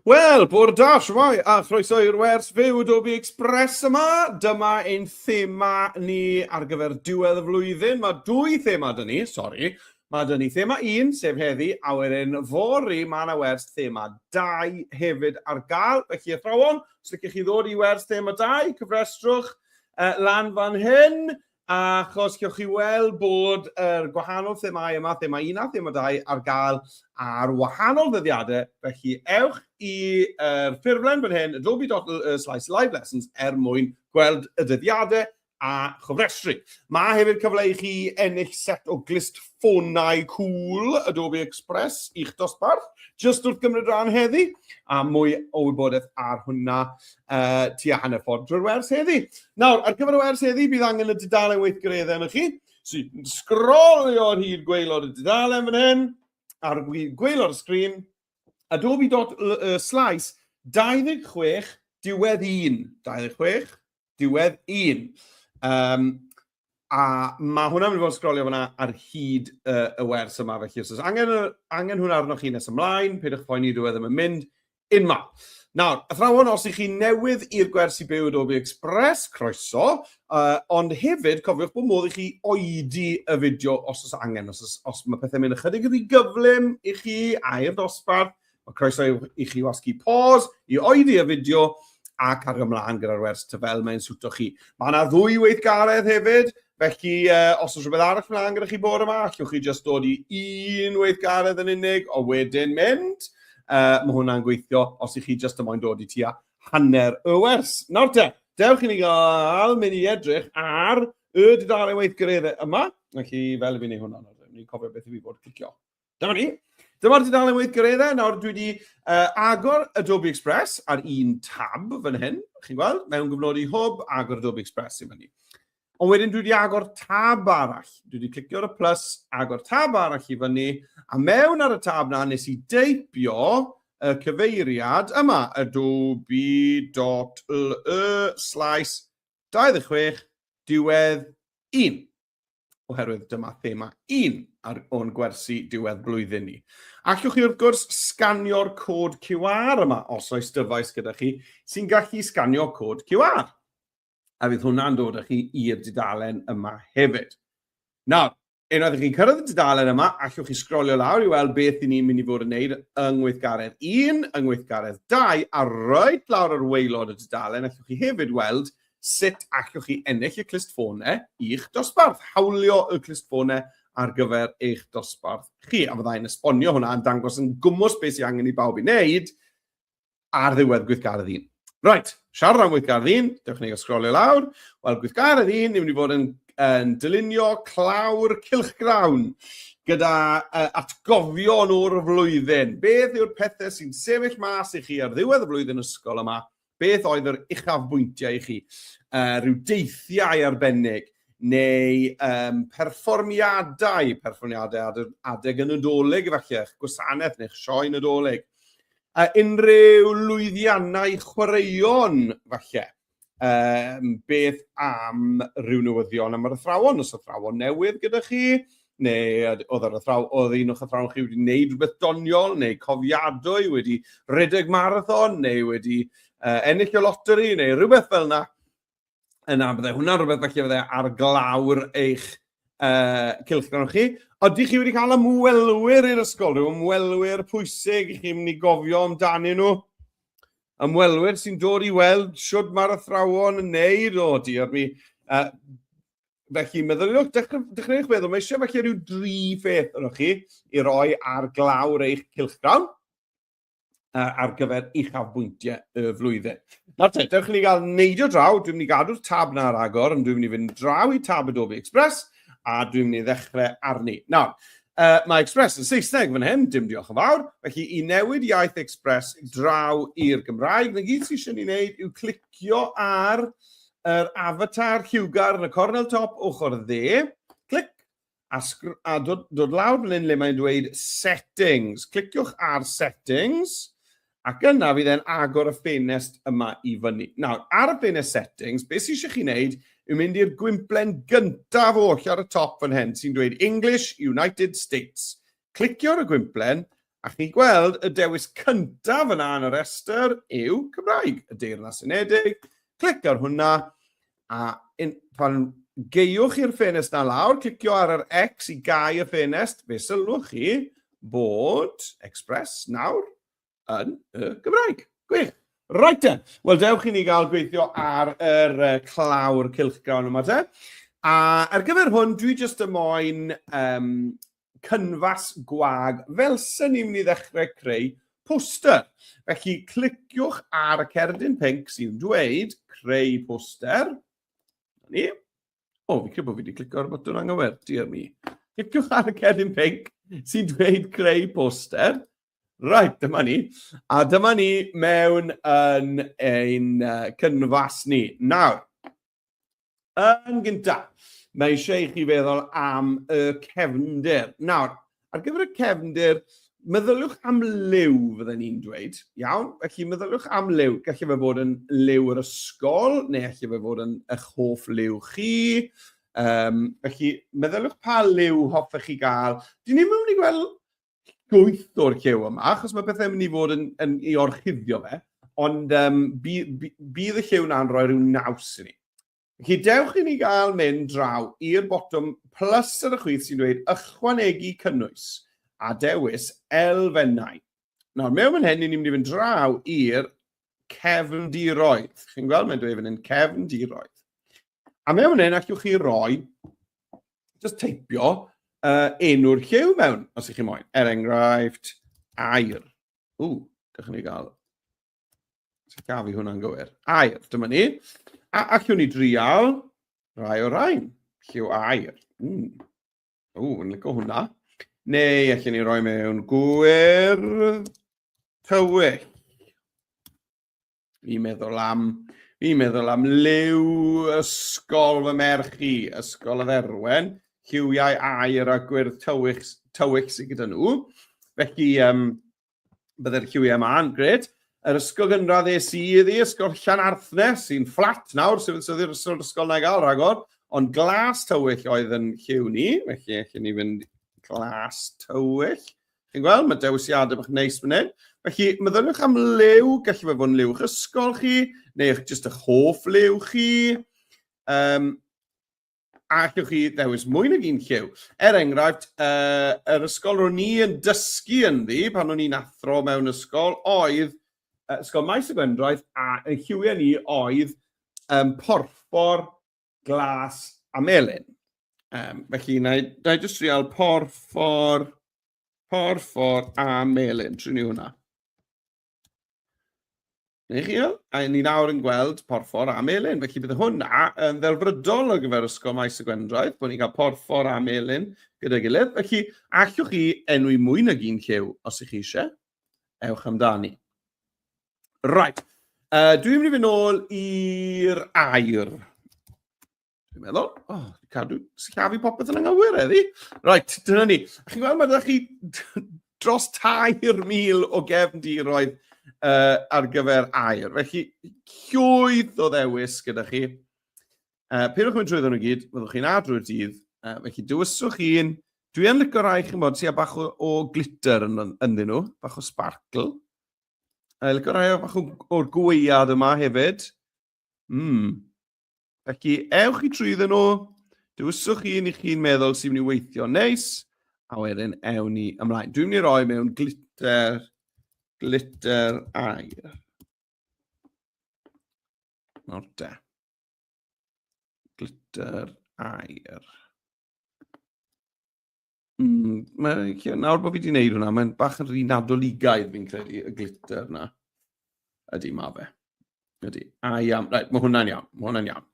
Wel, bore da, shwmae, a chroeso i'r wers fyw Adobe Express yma. Dyma ein thema ni ar gyfer diwedd y flwyddyn. Mae dwy thema dyn ni, sori. Mae dyn ni thema un, sef heddi, a wedyn fori mae yna wers thema dau hefyd ar gael. Felly athrawon, os ydych chi ddod i wers thema dau, cyfrestrwch uh, lan fan hyn. Achos gewch chi weld bod yr gwahanol themâu yma, thema un a thema dau, ar gael ar wahanol ddyddiadau, felly ewch i'r ffurflen fan hyn, adobe.com/livelessons, er mwyn gweld y dyddiadau a chofrestru. Mae hefyd cyfle i chi ennill set o glustffonau cŵl Adobe Express i'ch dosbarth, jyst wrth gymryd rhan heddi, a mwy o wybodaeth ar hwnna uh, tua hanner ffordd drwy'r wers heddi. Nawr, ar gyfer y wers heddi, bydd angen y dudalen weithgareddau yn y chi. So, sgrolio ar hyd gweilod y dudalen fan hyn, ar gweilod y sgrin, adobe.slice 26 diwedd 1, 26 diwedd 1. Um, A mae hwnna'n mynd i fod yn sgrolio fyna ar hyd uh, y wers yma, felly os oes angen, angen hwnna arnoch chi nes ymlaen, peidiwch poeni, dwi e ddim yn mynd unma. Nawr, athrawon, os ych chi newydd i'r gwersi byw Adobe Express, croeso, uh, ond hefyd cofiwch bod modd i chi oedi y fideo os oes angen, os, os, os mae pethau'n mynd ychydig yn gyflym i chi a i'r dosbarth, Mae croeso i chi wasgu pause i oeddi y fideo ac ar ymlaen gyda'r wers ty fel mae'n swto chi. Mae yna ddwy weithgaredd hefyd, felly uh, os oes rhywbeth arall mlaen gyda chi bod yma, allwch chi jyst dod i un weithgaredd yn unig o wedyn mynd. Uh, mae hwnna'n gweithio os i chi jyst ymoen dod i tua hanner y wers. Nawr te, dewch i ni gael mynd i edrych ar y dudalen weithgareddau yma. Felly, fel i fi wneud hwnna, ni'n cofio beth i fi bod clicio. Dyma ni. Dyma'r dudalen weithgareddau. Nawr, dwi wedi uh, agor Adobe Express ar un tab fan hyn, chi'n gweld, mewn gyfnodi hwb, agor Adobe Express i fyny. Ond wedyn dwi wedi agor tab arall. Dwi wedi clicio ar y plus, agor tab arall i fyny, a mewn ar y tab na nes i deipio y cyfeiriad yma, adobe.le slash 26 diwedd 1. oherwydd dyma thema un ar o'n gwersi diwedd blwyddyn ni. Allwch chi wrth gwrs sganio'r cod QR yma os oes dyfais gyda chi sy'n gallu sganio cod QR. A fydd hwnna'n dod â chi i'r dudalen yma hefyd. Nawr, unwaith ych chi'n cyrraedd y dudalen yma, allwch chi sgrolio lawr i weld beth i ni'n mynd i fod yn neud yng ngweithgaredd 1, yng ngweithgaredd 2, a roed lawr ar waelod y dudalen, allwch chi hefyd weld Sut allwch chi ennill y clustffonau i'ch dosbarth? Hawlio y clustffonau ar gyfer eich dosbarth chi. A fyddai'n esbonio hwnna yn dangos yn gwmwys beth sy'n angen i bawb i wneud ar ddiwedd gweithgaredd un. Right, siarad am gweithgaredd un, dewch ni sgrolio lawr. Wel, gweithgaredd un, ni'n mynd i fod yn, yn dylunio clawr cilchgrawn gyda uh, atgofion o'r flwyddyn. Beth yw'r pethau sy'n sefyll mas i chi ar ddiwedd y flwyddyn ysgol yma Beth oedd yr uchafbwyntiau i chi? Uh, rhyw deithiau arbennig neu um, perfformiadau, perfformiadau adeg y Nadolig efallai, eich gwasanaeth neu'ch sioe Nadolig. A unrhyw lwyddiannau chwaraeon falle. Um, beth am rhyw newyddion am yr athrawon, os athrawon newydd gyda chi, neu oedd yr athraw, oedd un o'ch athrawon chi wedi gwneud rhywbeth doniol, neu cofiadwy, wedi rhedeg marathon, neu wedi uh, ennill y loteri, neu rhywbeth fel yna. Yna, byddai hwnna'n rhywbeth felly fyddai ar glawr eich uh, cilchdan chi. Oeddi chi wedi cael ymwelwyr i'r ysgol, rhyw ymwelwyr pwysig i chi'n mynd i gofio amdanyn nhw? Ymwelwyr sy'n dod i weld siwt mae'r athrawon yn neud o, diolch mi. Uh, felly meddyliwch, dechreuwch feddwl, mae eisiau felly rhyw dri pheth yno chi i roi ar glawr eich cilchgrawn ar gyfer uchafbwyntiau y flwyddyn. Nawr te, dewch i ni gael neidio draw, dwi'n mynd i gadw'r tab na ar agor, ond dwi'n mynd i fynd draw i tab Adobe Express, a dwi'n mynd i ddechrau arni. Nawr, uh, mae Express yn Saesneg fan hyn, dim diolch yn fawr, felly i newid iaith Express draw i'r Gymraeg, na gyd sy'n eisiau ni wneud yw clicio ar yr avatar lliwgar yn y cornel top ochr dde, clic, a, a dod, dod lawr fan hyn le mae'n dweud settings. Cliciwch ar settings, ac yna fydd e'n agor y ffenest yma i fyny. Nawr, ar y ffenest settings, beth sy'n eisiau chi wneud yw mynd i'r gwymplen gyntaf oll ar y top fan hyn, sy'n dweud English, United States. Clicio ar y gwymplen a chi'n gweld y dewis cyntaf yna yn y rhestr yw Cymraeg, y Deyrnas Unedig. Clic ar hwnna a in, pan geiwch i'r ffenest na lawr, clicio ar yr X i gau y ffenest, fe sylwch chi bod Express nawr yn y Gymraeg. Gwych! Right then. Wel, dewch i ni gael gweithio ar yr uh, clawr cilchgrawn yma te. A ar gyfer hwn, dwi jyst y moyn um, cynfas gwag fel sy'n ni'n mynd i ddechrau creu poster. Felly, cliciwch ar y cerdyn pink sy'n dweud creu poster. Ni. O, fi credu bod fi wedi clicio ar y botwm anghywir, diar mi. Cliciwch ar y cerdyn pink sy'n dweud creu poster. Right, dyma ni. A dyma ni mewn yn ein uh, cynfas ni. Nawr, yn gyntaf, mae eisiau i chi feddwl am y cefnder. Nawr, ar gyfer y cefnder, meddyliwch am liw, fydden ni'n dweud. Iawn? Felly, meddyliwch am liw. Gallu fe fod yn liw yr ysgol, neu allu fe fod yn eich hoff liw chi. Um, felly, meddyliwch pa liw hoffech chi gael. Dyn ni'n mynd i gweld llwyth o'r llew yma, achos mae pethau'n mynd i fod yn, yn ei orchuddio fe, ond um, bydd, bydd y llew na'n rhoi rhyw naws i ni. Felly dewch i ni gael mynd draw i'r botwm plus ar y chwith sy'n dweud ychwanegu cynnwys a dewis elfennau. Nawr, mewn fan hyn, ni'n mynd i fynd draw i'r cefndiroedd. Chi'n gweld, mae'n dweud fan hyn, cefndiroedd. A mewn fan hyn, allwch chi roi, just teipio, uh, enw'r lliw mewn, os ych chi moyn. Er enghraifft, air. Ww, gallwn ni gael... Sut gaf i hwnna'n gywir? Air, dyma ni. A allwn ni drial rai o rain. Lliw air. Mm. Ww, yn lygo hwnna. Neu allan ni roi mewn gwyr tywyll. Fi'n meddwl am, fi'n meddwl am liw ysgol fy merch i, ysgol y dderwen, lliwiau air a gwyrdd tywych, tywych sydd gyda nhw. Felly, um, Byddai'r QMA'n gred. Yr ysgol gynradd es i iddi, ysgol Llanarthne, sy'n fflat nawr, sy'n fydd i'r ysgol, ysgol na i gael rhagor, ond glas tywyll oedd yn lliw ni, felly allwn ni fynd glas tywyll. Chi'n gweld, mae dewisiadau bach neis fan hyn. Felly, meddyliwch am liw, gallu fe fod yn liw'ch ysgol chi, neu eich jyst eich hoff liw chi. Um, allwch chi ddewis mwy nag un lliw. Er enghraifft, uh, yr ysgol ro'n ni yn dysgu ynddi pan o'n i'n athro mewn ysgol oedd uh, ysgol maes y gwendraeth a y lliwiau ni oedd um, porffor, glas a melyn. Um, felly, na i, na i just trial porffor, porffor a melyn. Trin ni hwnna. Neu chi, a ni nawr yn gweld porffor a melin, felly bydd hwnna yn ddelfrydol ar gyfer ysgol maes y Gwendraeth, bod ni'n cael porffor a melin gyda'i gilydd. Felly, allwch chi enwi mwy nag un lliw os ych chi eisiau? Ewch amdani. Right. Uh, dwi'n mynd i fynd nôl i'r air. Dwi'n meddwl, oh, cadw sillafu popeth yn anghywir eddi. Right, dyna ni. A chi'n gweld, mae ydych chi dros 3,000 o gefn diroedd uh, ar gyfer air. Felly, llwyth o ddewis gyda chi. Uh, Pyrwch mynd trwy nhw gyd, fyddwch chi'n adrwy'r dydd. Uh, felly, dywyswch un. Dwi yn licio rai chi'n bod sy'n bach o, o glitter yn, ynddyn nhw, bach o sparkle. Uh, licio rai o bach o'r gwead yma hefyd. Mm. Felly, ewch i trwyddo nhw, dywyswch chi yn i chi'n meddwl sy'n mynd i weithio neis, a wedyn ewn ni ymlaen. Dwi'n mynd i roi mewn glitter, glitter air. Nawr da. Glitter air. Mm, mae, nawr bod fi wedi gwneud hwnna, mae'n bach yn rhy nadoligaidd fi'n credu y glitter yna. Ydy, mae fe. Ydy. A iawn. Right, mae hwnna'n iawn. Mae hwnna'n iawn.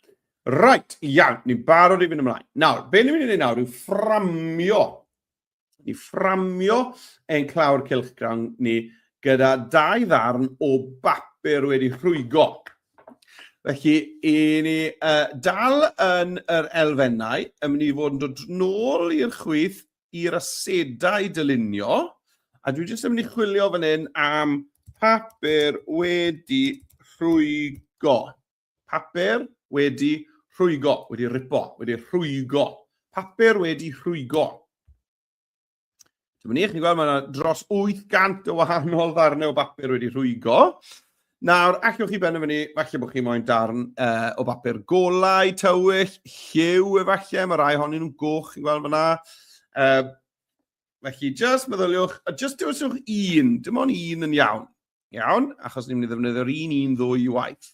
Right, iawn. Ni'n barod i fynd ymlaen. Nawr, be ni'n mynd i wneud nawr yw fframio. Ni fframio ein clawr cilchgrawn ni gyda dau ddarn o bapur wedi rhwygo. Felly, i ni uh, dal yn yr elfennau, yn mynd i fod yn dod nôl i'r chwith i'r asedau dylunio, a dwi jyst yn mynd i chwilio fan hyn am papur wedi rhwygo. Papur wedi rhwygo, wedi ripo, wedi rhwygo. Papur wedi rhwygo. Dyma ni, chi'n gweld, mae yna dros 800 o wahanol ddarnau o bapur wedi rhwygo. Nawr, allwch chi benderfynu, falle bod chi moyn darn uh, o bapur golau, tywyll, lliw efallai, mae rai honyn nhw'n goch, chi'n gweld fyna. Uh, felly, just meddyliwch, a just dewisiwch un, dim ond un yn iawn. Iawn, achos ni'n mynd i ddefnyddio'r un un ddwy waith,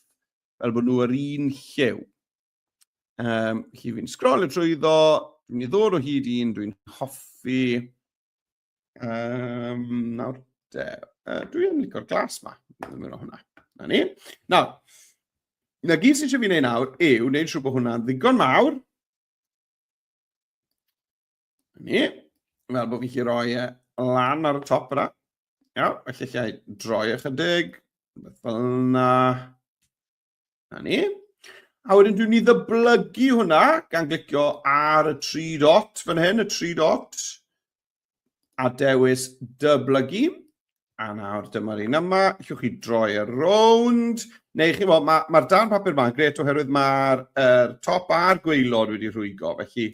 fel bod nhw yr un lliw. Um, chi fi'n sgrol y trwyddo, dwi'n ei ddod o hyd un, dwi'n hoffi. Um, nawr, de, uh, dwi'n licor glas ma, dwi'n mynd o hwnna. Na ni. Nawr, na gyd sy'n eisiau fi wneud nawr yw wneud siw bod hwnna'n ddigon mawr. Na ni. Fel bod fi chi roi e lan ar y top yna. Iawn, felly lle i droi ychydig, fel yna. Na ni. A wedyn dwi'n ni ddyblygu hwnna gan glicio ar y tri dot fan hyn, y tri dot, a dewis dyblygu. A nawr dyma'r un yma, llwch chi droi ar rownd, neu chi mo, mae'r ma dan papur yma yn gret oherwydd mae'r er, top a'r gweilod wedi rhwygo, felly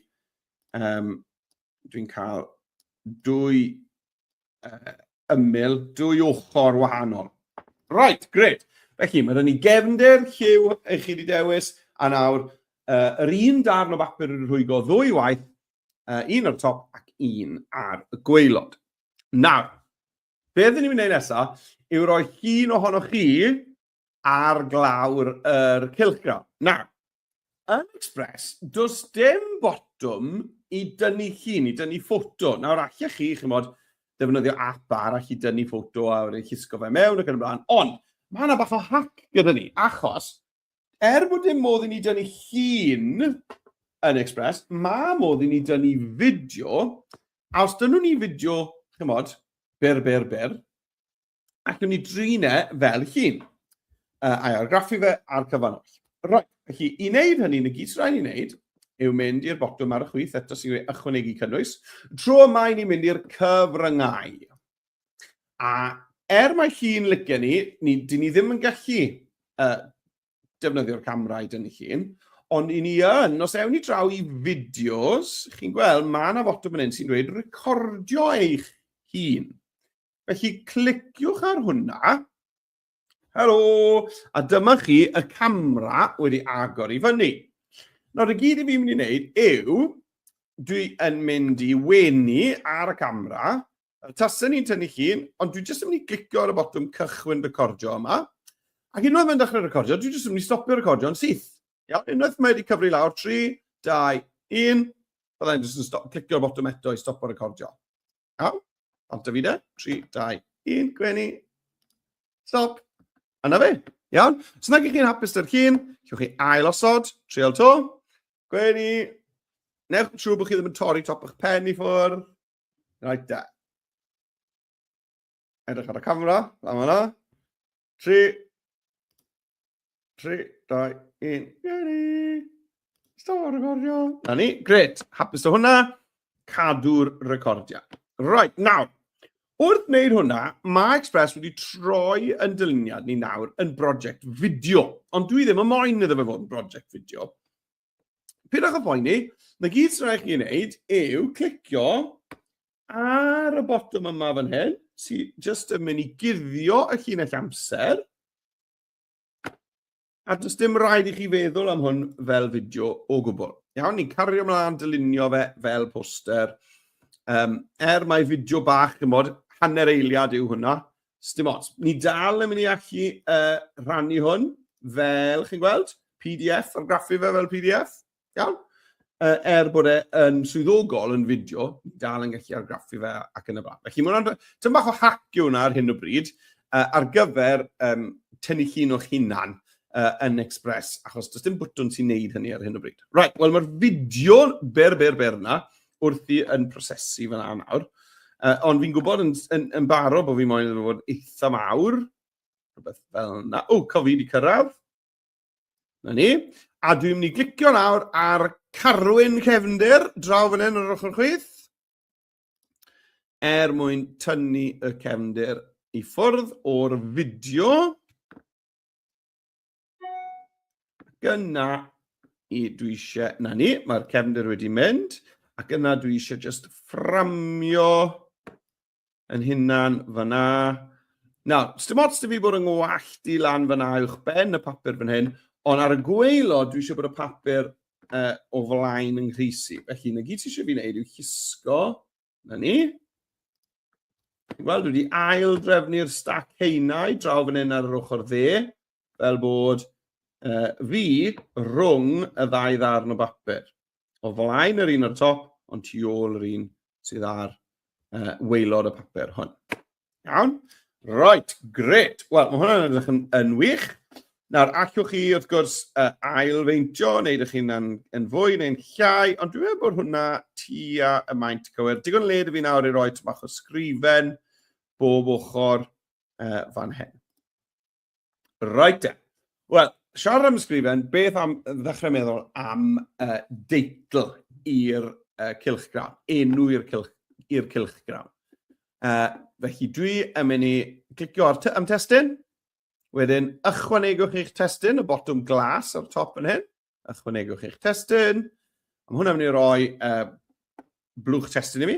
um, dwi'n cael dwy uh, ymyl, dwy ochr wahanol. Right, gred. Felly, mae rhywun i gefnder, lliw, eich chi wedi dewis, a nawr, uh, yr un darn o bapur yn rhwygo ddwy waith, uh, un o'r top ac un ar y gweilod. Nawr, be ydyn ni'n mynd nesaf yw roi llun ohonoch chi ar glawr yr cylchgrawn. Na, yn Express, does dim botwm i dynnu llun, i dynnu ffoto. Nawr, allech chi, chi'n bod, defnyddio app arall i dynnu ffoto a wedi llusgo fe mewn ac yn y blaen. Ond, mae yna bach o hack gyda ni, achos, er bod dim modd i ni dynnu llun yn Express, mae modd i ni dynnu fideo, a os dynnu ni fideo, chi'n bod, byr, byr, byr, ac yn mynd i drin e fel hun, uh, a'i argraffu fe a'r cyfan oll. Right, felly i wneud hynny, yn y gyd sy'n rhaid i wneud yw mynd i'r botwm ar y chwith eto sy'n gwneud ychwanegu cynnwys. Tro yma i ni'n mynd i'r cyfryngau. A er mae hi'n licio ni, ni dyn ni ddim yn gallu uh, defnyddio'r camera i dynnu llun, ond i ni yn, os ewn ni draw i fideos, chi'n gweld, mae yna fotwm yn un sy'n dweud recordio eich hun. Felly, cliciwch ar hwnna. Helo! A dyma chi y camera wedi agor i fyny. Nawr, y gyd i fi'n mynd i wneud yw, dwi yn mynd i wenu ar y camera, tasau ni'n tynnu llun, ond dwi jyst yn mynd i glicio ar y botwm cychwyn recordio yma. Ac unwaith mae'n dechrau recordio, dwi jyst yn mynd i stopio recordio yn syth. Iawn, unwaith mae wedi cyfri lawr 3, 2, 1, byddai'n jyst yn stop, clicio botwm eto i stopio recordio. Aw, ond Davide, 3, 2, 1, gwenu. Stop. A na fe. Iawn? Os nag ych chi'n hapus dy'r cyn, chiwch chi ail osod, trial to. Gwenu. Newch yn siŵr bod chi ddim yn torri top eich pen i ffwrdd. Right there. Edrych ar y camera, fan yna. Tri. Tri, dau, un. Geri. Stop recordio. Na ni, gret. Hapus o hwnna. Cadw'r recordio. Right, nawr. Wrth wneud hwnna, mae Express wedi troi yn dyluniad ni nawr yn brosiect fideo. Ond dwi ddim yn moyn iddo fe fod yn brosiect fideo. Pidwch o boeni, na gyd sy'n rhaid chi wneud yw clicio ar y botwm yma fan hyn, sy'n just yn mynd i guddio y llinell amser. A does dim rhaid i chi feddwl am hwn fel fideo o gwbl. Iawn, ni'n cario ymlaen dylunio fe fel poster. Um, er mae fideo bach, yn bod, hanner eiliad yw hwnna, Sdim ots. Ni dal yn mynd i allu uh, rhannu hwn fel, chi'n gweld, PDF, ar graffu fe fel PDF. Iawn? Uh, er bod e yn swyddogol yn fideo, ni dal yn gallu argraffu fe ac yn y blaen. Felly, mae'n tyn bach o hac yw hwnna ar hyn o bryd uh, ar gyfer um, tynnu llun o'ch hunan uh, yn Express, achos does dim bwtwn sy'n neud hynny ar hyn o bryd. Right, wel mae'r fideo ber, ber, ber yna, wrthi yn prosesu fel yna nawr. Uh, ond fi'n gwybod yn, yn, yn baro bod fi moyn yn fod eitha mawr. Rhywbeth fel yna. O, cof fi wedi cyrraedd. Na ni. A dwi'n mynd i glicio nawr ar Carwyn Cefnder, draw fan hyn ar ochr chwith. Er mwyn tynnu y cefnder i ffwrdd o'r fideo. Gyna i dwi eisiau, na ni, mae'r cefndir wedi mynd, ac yna dwi eisiau just fframio yn hunan fyna. Na, dim ots dy fi bod yn ngwallt i lan fyna uwch ben y papur fan hyn, ond ar y gweilo dwi eisiau bod y papur uh, o flaen yng nghrisi. Felly, na gyd ti eisiau fi wneud yw hisgo Na ni. Wel, dwi wedi ail drefnu'r stac heinau draw fan hyn ar yr ochr dde, fel bod uh, fi rhwng y ddau ddarn o bapur. O flaen yr un o'r top, ond tu ôl yr un sydd ar uh, weilod y papur hwn. Iawn? Right, gret. Wel, mae hwnna'n edrych yn, yn wych. Nawr, allwch chi, wrth gwrs, uh, ailfeintio, neu ydych chi'n yn, yn fwy neu'n llai, ond dwi'n meddwl bod hwnna tua y maint cywir. Digon led i fi nawr i roi tymach o sgrifen bob ochr uh, fan hyn. Right then. Wel, siarad am ysgrifen, beth am ddechrau meddwl am uh, deitl i'r uh, cilchgrawn, enw i'r cilch, i'r cilchgrawn. Uh, felly dwi yn mynd i clicio ar am testyn, wedyn ychwanegwch eich testyn, y botwm glas o'r top yn hyn, ychwanegwch eich testyn. Mae hwnna'n mynd i roi uh, blwch testyn i mi.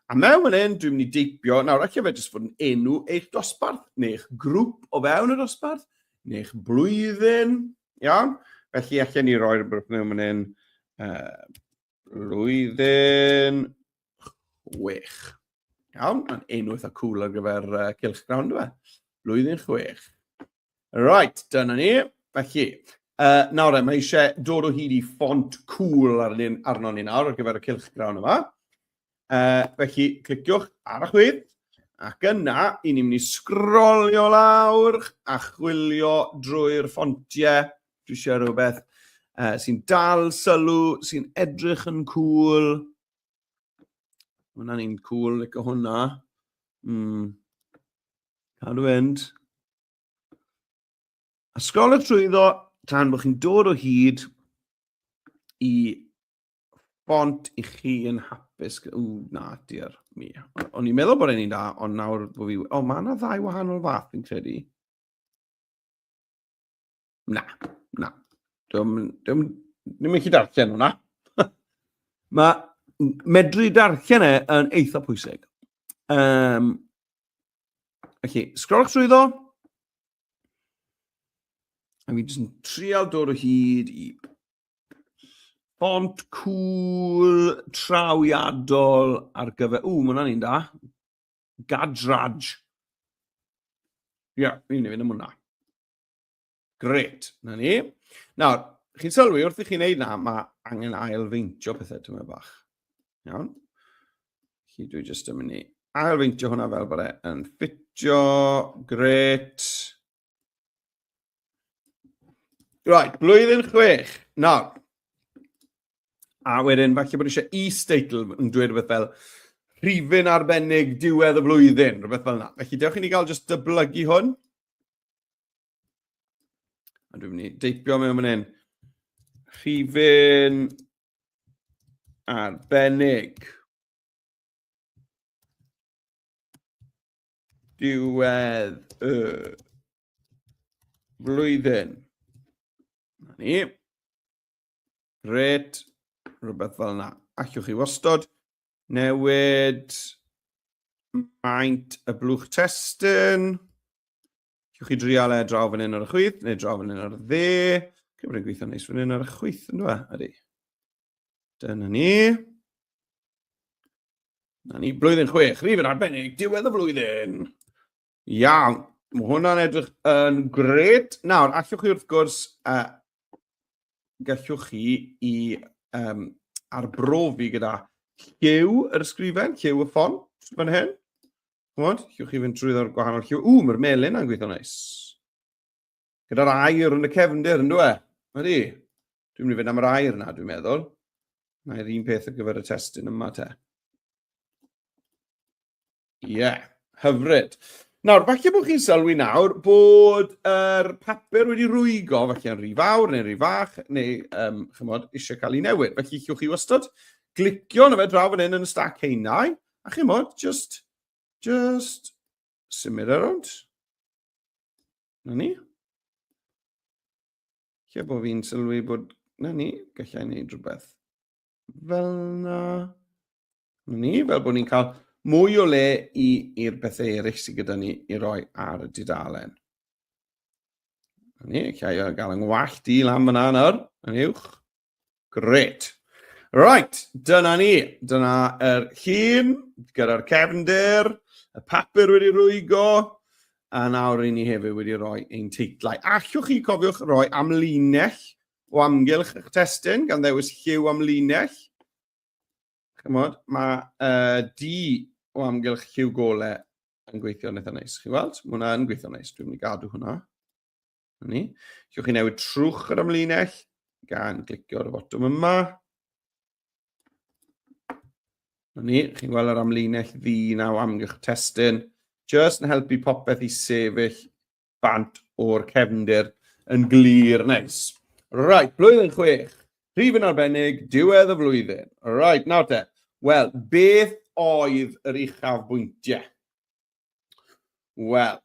A mewn fan hyn, dwi'n mynd i deipio, nawr ac efe jyst fod yn enw eich dosbarth, neu eich grŵp o fewn y dosbarth, neu eich blwyddyn, iawn? Felly, allan ni roi'r blwch mewn fan hyn, uh, blwyddyn chwech. Iawn, mae'n enw eitha cool ar gyfer uh, cylch grawn, dwi? Blwyddyn chwech. Right, dyna ni. Felly, uh, nawr e, mae eisiau dod o hyd i ffont cool ar un arno ni nawr ar gyfer y cilch grawn yma. Uh, felly, cliciwch ar y chwyd, ac yna, i ni'n mynd i sgrolio lawr a chwilio drwy'r ffontiau. Dwi eisiau rhywbeth uh, sy'n dal sylw, sy'n edrych yn cool. Hwna'n un cool, like hwnna. Mm. Cadw fynd. A sgol y trwyddo tan bod chi'n dod o hyd i bont i chi yn hapus. O, na, diar mi. O'n i'n meddwl bod e'n un da, ond nawr bod fi... O, mae yna ddau wahanol fath fi'n credu. Na, na. Dwi'n ddim yn gallu darllen hwnna. Mae medru darllen e yn eitha pwysig. Um, felly, sgrol trwy ddo. A mi jyst yn trial dod o hyd i font cool trawiadol ar gyfer... Ww, mae hwnna'n un da. Gadraj. Ia, yeah, ni'n mynd am hwnna. Gret, na ni. Nawr, chi'n sylwi wrth i chi'n neud na, mae angen ailfeintio pethau tyma bach. Iawn? Chi dwi jyst yn mynd i ailfeintio hwnna fel bod e'n ffitio. Gret. Right, blwyddyn chwech. Nawr, a wedyn falle bod eisiau e-statel yn dweud rhywbeth fel rhifyn arbennig diwedd y flwyddyn, rhywbeth fel yna. Felly, dewch i ni gael just dyblygu hwn. A dwi'n mynd i deipio mewn fan hyn. Rhifyn arbennig. Diwedd y flwyddyn. Na ni. Gret, rhywbeth fel yna. Allwch chi wastod newid maint y blwch testyn. Allwch chi drial e draw fan hyn ar y chwyth, neu draw fan hyn ar y dde. Dwi'n bod yn gweithio neis fan hyn ar y chwyth, yn dweud, ydy. Dyna ni. Na ni, blwyddyn chwech, rhif yn arbennig, diwedd y flwyddyn. Iawn, mae hwnna'n edrych yn gred. Nawr, allwch chi wrth gwrs, uh, gallwch chi i um, arbrofi gyda lliw yr ysgrifen, lliw y ffon, fan hyn. Chymod, llwch chi fynd trwy ddod gwahanol lliw. Ww, mae'r melin yn gweithio neis. Gyda'r air yn y cefndir, yn dweud? Ydy. Dwi'n mynd i fynd am yr air yna, dwi'n meddwl. Mae'r un peth ar gyfer y testyn yma te. Ie, yeah, hyfryd. Nawr, falle bod chi'n sylwi nawr bod yr er papur wedi rwygo, falle yn rhy fawr neu rhy fach, neu um, chymod, eisiau cael ei newid. Felly chiwch chi wastad glicio na fe draw fan hyn yn y stac heinau, a chymod, just, just Symud ar rownd. Na ni. Lle bod fi'n sylwi bod... Na ni, gallai wneud rhywbeth fel na. Na ni, fel bod ni'n cael mwy o le i'r bethau eraill sydd gyda ni i roi ar y dudalen. Na ni, llai o gael yng ngwallt i lan fyna nawr, yn uwch. Gret. Right, dyna ni. Dyna yr er llun gyda'r cefnder, y papur wedi rwygo, a nawr i ni hefyd wedi rhoi ein teitlau. Allwch chi cofiwch roi amlinell o amgylch eich testyn gan ddewis lliw amlinell. Chymod, mae uh, di o amgylch lliw gole yn gweithio'n eitha neis. Chi weld? Mae hwnna yn gweithio'n neis. Dwi'n mynd i gadw hwnna. Ni. Gewch chi newid trwch yr amlinell gan glicio ar y fotwm yma. Ni, chi'n gweld yr amlinell ddi naw amgylch testyn. Just yn helpu popeth i sefyll bant o'r cefndir yn glir neis. Right, blwyddyn chwech. Rhif yn arbennig, diwedd y flwyddyn. Right, nawr te. Wel, beth oedd yr uchaf bwyntiau? Wel,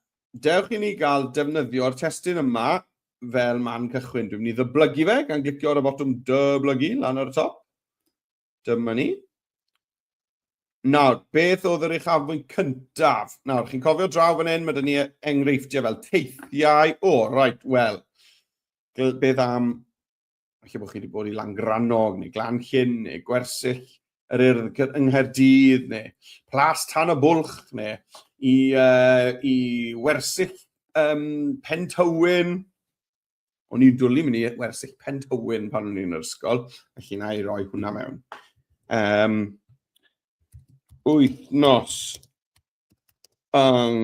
dewch i ni gael defnyddio'r testyn yma fel man cychwyn. Dwi'n mynd i ddyblygu fe gan glicio ar y botwm dyblygu lan ar y top. Dyma ni. Nawr, beth oedd yr uchafbwynt cyntaf? Nawr, chi'n cofio draw fan hyn, mae dyn ni enghreifftiau fel teithiau. O, oh, right, wel, beth am Felly bod chi wedi bod i Langrannog, neu Glanllyn, neu Gwersyll, yr Urdd yng Nghaerdydd, neu Plas Tan y Bwlch, neu i, uh, i Wersyll um, Pen Tywyn. O'n i'n dwlu mynd i Wersyll Pen Tywyn pan o'n i'n yr ysgol, felly na i roi hwnna mewn. Um, wythnos yng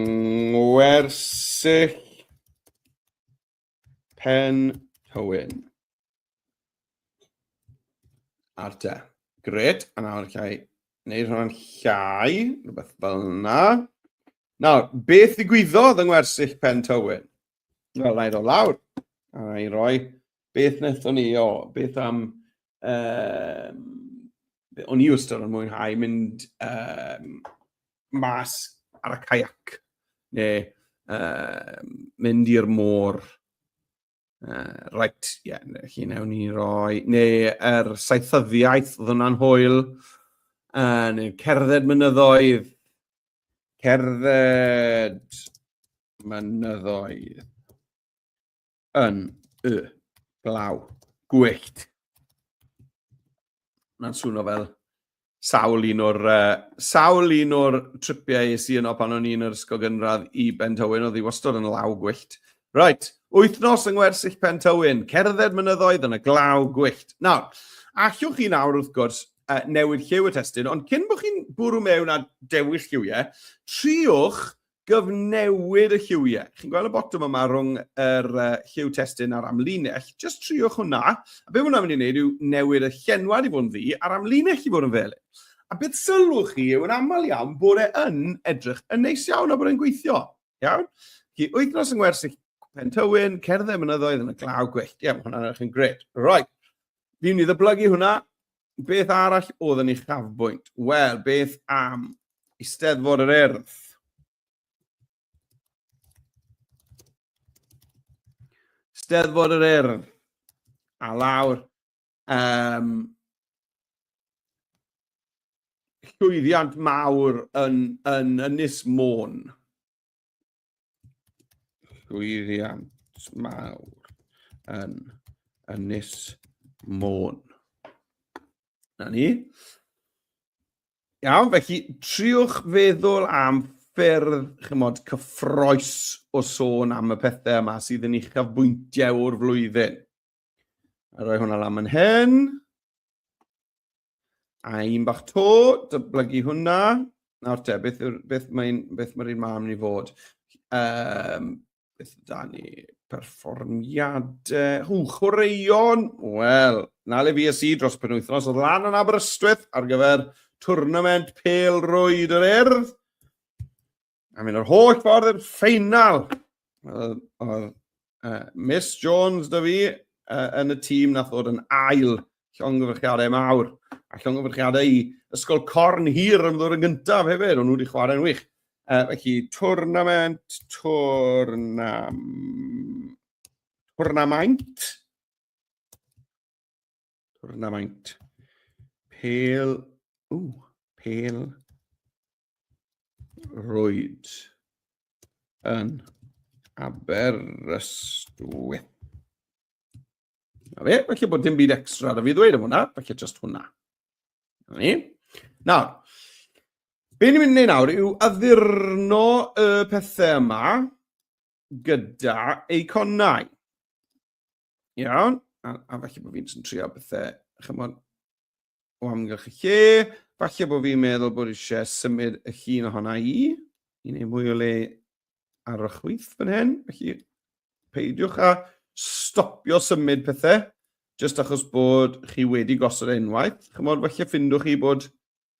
Ngwersyll Pen Hywyn. Ar te. Gret, a nawr llai. Neu rhan llai, rhywbeth fel yna. Nawr, beth ddigwyddodd yng ngwersyll Pen Tywyn? Wel, na i ddod lawr. A na i roi beth wnaethon ni, o, beth am um, o'n i wastad yn mwynhau mynd um, mas ar y caiac, neu uh, mynd i'r môr. Uh, right, ie, yeah, chi newn ni roi, neu yr er saethyddiaeth oedd hwnna'n hwyl, uh, neu cerdded mynyddoedd, cerdded mynyddoedd. Yn y glaw. Gwyllt. Mae'n swno fel sawl un o'r uh, sawl un o'r tripiau es i yno pan o'n i'n yr ysgol gynradd i Ben Tywyn oedd i wastod yn law gwyllt. Right, wythnos yng ngwersyll Pen Tywyn, cerdded mynyddoedd yn y glaw gwyllt. Nawr, allwch chi nawr wrth gwrs uh, newid lliw y testyn, ond cyn bod chi'n bwrw mewn a dewis lliwiau, triwch gyfnewid y lliwiau. Chi'n gweld y botwm yma rhwng yr uh, lliw testyn a'r amlinell. Just triwch hwnna. A beth hwnna'n mynd i wneud yw newid y llenwad i fod yn ddi a'r amlinell i fod yn felyn. A beth sylwch chi yw yn aml iawn bod e yn edrych yn neis iawn a bod e'n gweithio. Iawn? Chi wythnos yng Ngwersyll Pentywyn, cerdded mynyddoedd yn y glaw gwyllt. Ie, mae hwnna'n edrych yn gred. Right. Fi'n i ddyblygu hwnna. Beth arall oedd yn ei chafbwynt? Wel, beth am Eisteddfod yr Urdd? Steddfod yr Urdd. A lawr. Um, llwyddiant mawr yn, yn Ynys Môn. llwyddiant mawr yn Ynys Môn. Na ni. Iawn, felly triwch feddwl am ffyrdd, chymod, cyffroes o sôn am y pethau yma sydd yn uchafbwyntiau o'r flwyddyn. A roi hwnna lan yn hyn. A un bach to, dyblygu hwnna. Nawr te, beth, beth mae'n beth mae'r un mam ni fod? Um, beth da ni? Perfformiadau. Hw, chwaraeon. Wel, na le fi a si dros penwythnos oedd lan yn Aberystwyth ar gyfer twrnament pel rwyd yr erdd. A mynd yr holl ffordd i'r ffeinal. Oedd uh, Miss Jones da fi uh, yn y tîm nath ddod yn ail llongyfrchiadau mawr a llongyfrchiadau i Ysgol Corn Hir yn ddod yn gyntaf hefyd, ond nhw wedi chwarae'n wych. Uh, felly, twrnament, twrnam... twrnamaint. Twrnamaint. Pel... Ww, pel... roed yn Aberystwyth. Na fe, felly bod dim byd extra ar y fi ddweud am hwnna, felly just hwnna. Na ni. Nawr, be ni'n mynd i wneud nawr yw addurno y pethau yma gyda eiconau. Iawn, a, a falle bod fi'n trio bethau, chymod, o amgylch y lle. Falle bod fi'n meddwl bod eisiau symud y llun ohona i, i wneud mwy o le ar y chwyth fan hyn. Felly, peidiwch a stopio symud pethau, jyst achos bod chi wedi gosod e unwaith. Chymod, falle ffindwch chi bod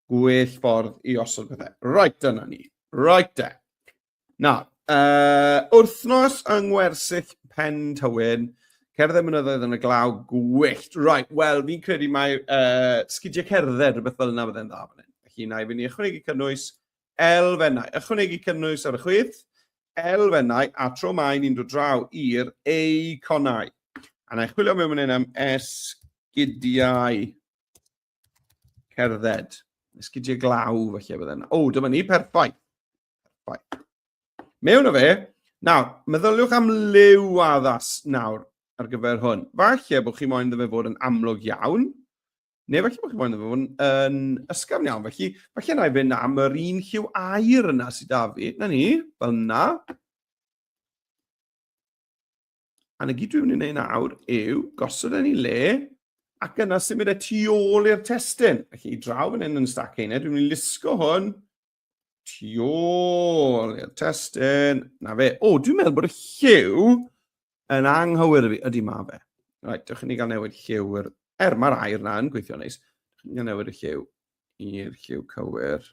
gwell ffordd i osod pethau. Right, dyna ni. Right, e. Na. Uh, wrthnos yng Ngwersyll Pen Tywyn, cerdded mynyddoedd yn y glaw, gwyllt. Right, wel, fi'n credu mae uh, sgidiau cerdded, rhywbeth fel yna fydde'n dda fan hyn. Felly, na i fynd i ychwanegu cynnwys elfennau. Ychwanegu cynnwys ar y chwith, elfennau, a tro mae ni'n dod draw i'r eiconau. A na i chwilio mewn fan hyn am esgidiau. Cerdded. Esgidiau glaw, felly, bydde yna. O, dyma ni, perffaith. Perffaith. Mewn o fe, nawr, meddyliwch am liw addas nawr ar gyfer hwn. Falle bod chi moyn ddefa fod yn amlwg iawn, neu falle bod chi moyn ddefa fod yn, yn ysgafn iawn. Felly, falle na i fynd am yr un lliw air yna sydd da fi. Na ni, fel yna. A na gyd dwi'n mynd i wneud nawr yw gosod yn ei le ac yna symud y e tu ôl i'r testyn. Ac i draw yn hyn yn stac ein dwi'n mynd i lusgo hwn tu ôl i'r testyn. Na fe. O, dwi'n meddwl bod y lliw yn anghywir i fi. Ydy ma fe. Right, dewch i ni gael newid lliw. Er, er mae'r air na yn gweithio neis. Dewch i ni gael newid y lliw i'r lliw cywir.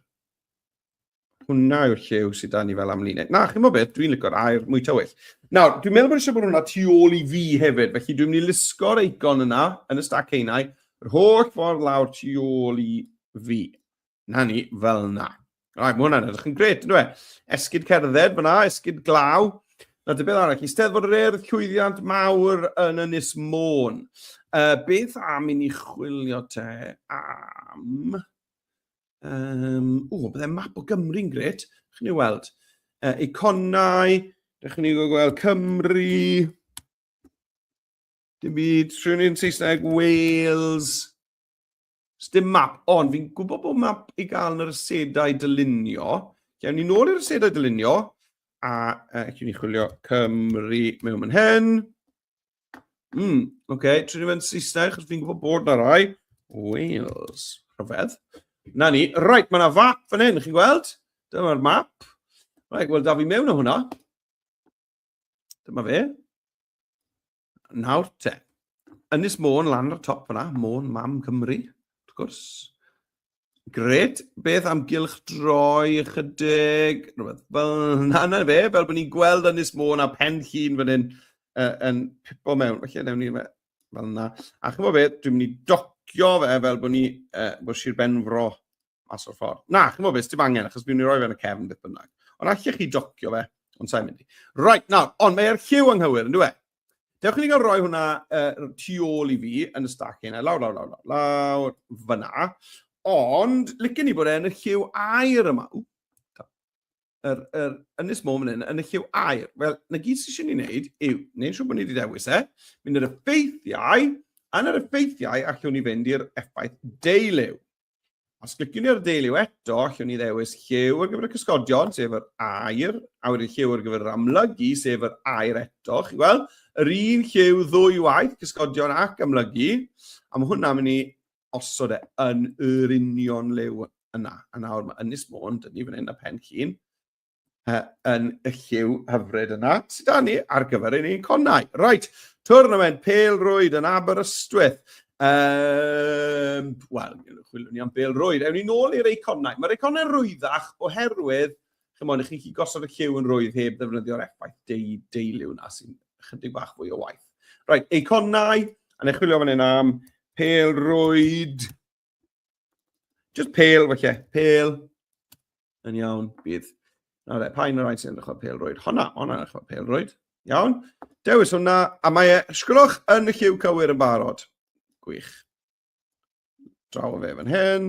Hwna yw'r llew sydd da ni fel amlinell. Na, chi'n mo beth, dwi'n lygo'r air mwy tywyll. Nawr, dwi'n meddwl bod eisiau bod hwnna tu ôl i fi hefyd, felly dwi'n mynd i lusgo'r eicon yna, yn y stac einau, yr holl ffordd lawr tu ôl i fi. Na ni, fel na. Rai, mae hwnna'n edrych yn gret, ynddo e? Esgyd cerdded fyna, esgyd glaw. Na, dy beth arall, eisteddfod yr erdd, llwyddiant mawr yn Ynys Môn. Uh, beth am i ni chwilio te am Um, o, bydde map o Gymru'n gret. Chi'n ei weld? Uh, iconau, Rydych chi'n gweld Cymru. Dim byd, rhywun yn Saesneg, Wales. Dim map, ond fi'n gwybod bod map i gael yn yr ysedau dylunio. Gewn ni nôl i'r ysedau dylunio, a uh, chi'n ni chwilio Cymru mewn yn hyn. Mm, oce, okay. trin i fe'n Saesneg, chos fi'n gwybod bod na rai. Wales. Rhyfedd. Na ni. Right, mae yna fap fan hyn, chi'n gweld? Dyma'r map. Right, wel, da fi mewn o hwnna. Dyma fe. Nawr te. Ynys Môn lan ar y top yna, Môn Mam Cymru, wrth gwrs. Gret, beth am gylch droi ychydig, rhywbeth fel yna na fe, fel bod ni'n gweld Ynys Môn a pen llun fan hyn uh, yn pipo mewn. Felly, newn ni fe fel yna. A chymod beth, dwi'n mynd i docio fe fel bod ni, uh, bod Sir Benfro mas o'r ffordd. Na, chymod beth, dim angen, achos dwi'n mynd i roi fe yn y cefn beth bynnag. Ond allech chi docio fe, ond sa'n mynd i. Right, nawr, ond mae'r lliw anghywir, yn dwi e? Dewch i ni gael rhoi hwnna uh, tu ôl i fi yn y stac hynna, lawr, lawr, lawr, lawr, lawr, fyna. Ond, licen ni bod e yn y lliw air yma. Ww, yr, yr ynys môn fan hyn, yn y lliw air. Wel, na gyd sy'n eisiau ni wneud yw, neu'n siŵr bod ni wedi dewis e, mynd yr effeithiau, yn yr effeithiau allwn ni fynd i'r effaith deiliw. Os cliciwn ni ar y deiliw eto, allwn ni ddewis lliw ar gyfer y cysgodion, sef yr air, a wedyn lliw ar gyfer yr amlygu, sef yr air eto. Chi'n gweld? Yr un lliw ddwy waith, cysgodion ac amlygu, a mae hwnna'n mynd i osod e yn yr union liw yna. A nawr mae Ynys Môn, dyn ni fan hyn a Pen Llun, yn y lliw hyfryd yna sydd da ni ar gyfer ein conau. Right, twrnament Pel Rwyd yn Aberystwyth. Um, Wel, chwilwn ni am Pel Rwyd. Ewn ni nôl i'r eiconau. Mae'r eiconau rwyddach oherwydd, chymod, i chi gosod y lliw yn rwydd heb ddefnyddio'r effaith deu, deiliw na sy'n chydig bach fwy o waith. Right, eiconau, a neu chwilio fan hyn am Pel Rwyd. Just pale, felly. Pale. Yn iawn, bydd. Na dde, pa un o'r rhaid sy'n edrych o'r pelrwyd? Honna, honna edrych o'r pelrwyd. Iawn. Dewis hwnna, a mae e, sgwrwch yn y lliw cywir yn barod. Gwych. Draw o fe fan hyn.